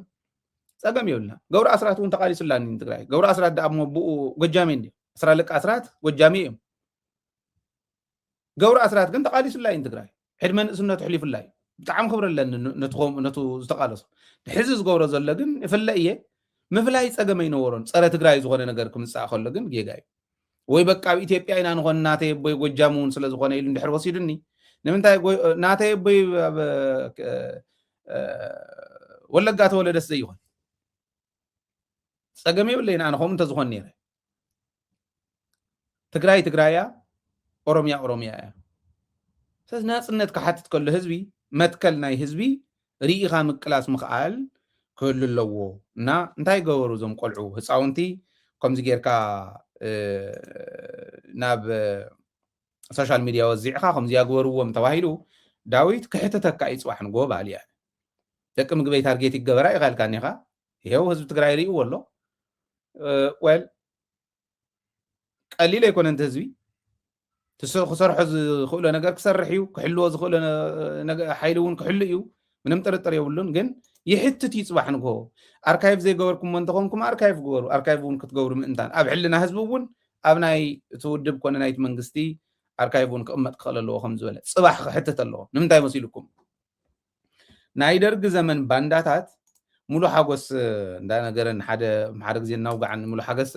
ፀገም የብልና ገብሩ ኣስራት እውን ተቃሊሱላኒ ትግራይ ገብሩ ኣስራት ዳኣ ሞ ብኡ ጎጃሜ እንዲ ኣስራ ልቂ ኣስራት ጎጃሜ እዮም ገብሩ ኣስራት ግን ተቃሊሱላ እዩ ንትግራይ ዕድመ ንእስነቱ ሕሊፉላ እዩ ብጣዕሚ ክብሪ ኣለኒ ነቱ ዝተቃለሶ ሕዚ ዝገብሮ ዘሎ ግን ይፍለ እየ ምፍላይ ፀገም ኣይነበሮን ፀረ ትግራይ ዝኾነ ነገር ክምፃእ ከሎ ግን ጌጋ እዩ ወይ በቃ ኣብ ኢትዮጵያ ኢና ንኾን ናተይ ኣቦይ ጎጃም እውን ስለዝኾነ ኢሉ እንድሕር ወሲዱኒ ንምንታይ ናተይ ኣቦይ ኣብ ወለጋ ተወለደስ ዘይኾን ፀገም የብለይን ኣነ ከምኡ እንተዝኾን ነይረ ትግራይ ትግራይ እያ፣ ኦሮምያ ኦሮምያ እያ። ስለዚ ናፅነት ክሓትት ከሎ ህዝቢ መትከል ናይ ህዝቢ ርኢኻ ምቅላስ ምኽኣል ክህሉ ኣለዎ እና እንታይ ገበሩ እዞም ቆልዑ ህፃውንቲ ከምዚ ጌርካ ናብ ሶሻል ሚድያ ወዚዕኻ ከምዚ ያግበርዎም ተባሂሉ ዳዊት ክሕተተካ እዩ ፅባሕ ንጎ በሃሊ እያ ደቂ ምግበይ ታርጌት ይገበራ ይካልካ እኒኻ ይሄው ህዝቢ ትግራይ ርእይዎ ኣሎ ወል ቀሊል ኣይኮነን እቲ ህዝቢ ክሰርሖ ዝኽእሎ ነገር ክሰርሕ እዩ ክሕልዎ ዝኽእሎ ሓይሊ እውን ክሕሉ እዩ ምንም ጥርጥር የብሉን ግን ይሕትት እዩ ፅባሕ ንግሆ ኣርካይቭ ዘይገበርኩሞ እንተኾንኩም ኣርካይቭ ግበሩ ኣርካይቭ እውን ክትገብሩ ምእንታን ኣብ ሕልና ህዝቢ እውን ኣብ ናይ እቲ ውድብ ኮነ ናይቲ መንግስቲ ኣርካይቭ እውን ክቕመጥ ክኽእል ኣለዎ ከም ዝበለ ፅባሕ ክሕትት ኣለዎ ንምንታይ መሲልኩም ናይ ደርጊ ዘመን ባንዳታት ሙሉ ሓጎስ እንዳነገረን ሓደ ሓደ ግዜ እናውጋዕን ሙሉ ሓገስ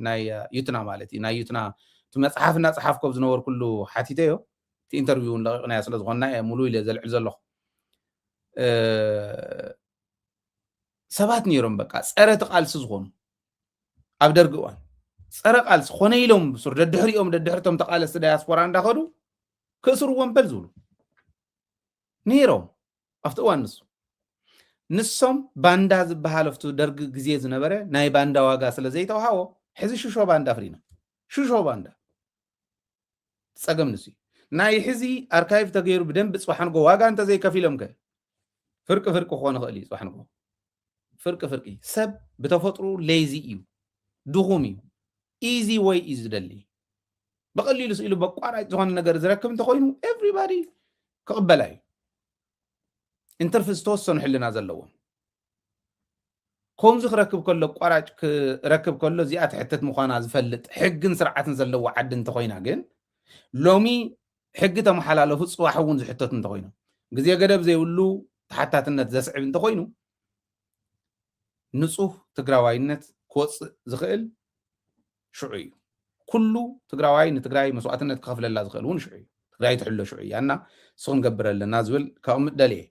ናይ ዩትና ማለት እዩ ናይ ዩትና እቲ መፅሓፍ እናፀሓፍኮ ኣብ ዝነበርኩሉ ሓቲተዮ እቲ ኢንተርቪው እውን ለቂቕናዮ ስለ ዝኾንና እየ ሙሉ ኢለ ዘልዕል ዘለኹ ሰባት ነይሮም በቃ ፀረ እቲ ቃልሲ ዝኾኑ ኣብ ደርጊ እዋን ፀረ ቃልሲ ኮነ ኢሎም ብሱር ደድሕሪኦም ደድሕርቶም ተቃለስቲ ዳያስፖራ እንዳኸዱ ክእስርዎም በል ዝብሉ ነይሮም ኣብቲ እዋን ንሱ ንሶም ባንዳ ዝበሃል ኣብቲ ደርጊ ግዜ ዝነበረ ናይ ባንዳ ዋጋ ስለ ዘይተዋሃቦ ሕዚ ሽሾ ባንዳ ፍሪና ሽሾ ባንዳ ፀገም ንሱ ናይ ሕዚ ኣርካይቭ ተገይሩ ብደንብ ፅባሕ ንጎ ዋጋ እንተዘይከፊሎም ከ ፍርቂ ፍርቂ ክኾን ይኽእል እዩ ፅባሕ ንጎ ፍርቂ ፍርቂ ሰብ ብተፈጥሩ ሌዚ እዩ ድኹም እዩ ኢዚ ወይ እዩ ዝደሊ ብቐሊሉ ስኢሉ በቋራጭ ዝኾነ ነገር ዝረክብ እንተኮይኑ ኤቭሪባዲ ክቕበላ እዩ እንትርፊ ዝተወሰኑ ሕልና ዘለዎም ከምዚ ክረክብ ከሎ ቋራጭ ክረክብ ከሎ እዚኣ ትሕትት ምዃና ዝፈልጥ ሕግን ስርዓትን ዘለዎ ዓዲ እንተኮይና ግን ሎሚ ሕጊ ተመሓላለፉ ፅባሕ እውን ዝሕተቱ እንተኮይኑ ግዜ ገደብ ዘይብሉ ተሓታትነት ዘስዕብ እንተኮይኑ ንፁህ ትግራዋይነት ክወፅእ ዝኽእል ሽዑ እዩ ኩሉ ትግራዋይ ንትግራይ መስዋእትነት ክኸፍለላ ዝኽእል እውን ሽዑ እዩ ትግራይ ትሕሎ ሽዑ እያ እና እሱ ክንገብር ኣለና ዝብል ከቕምጥ ደልየ።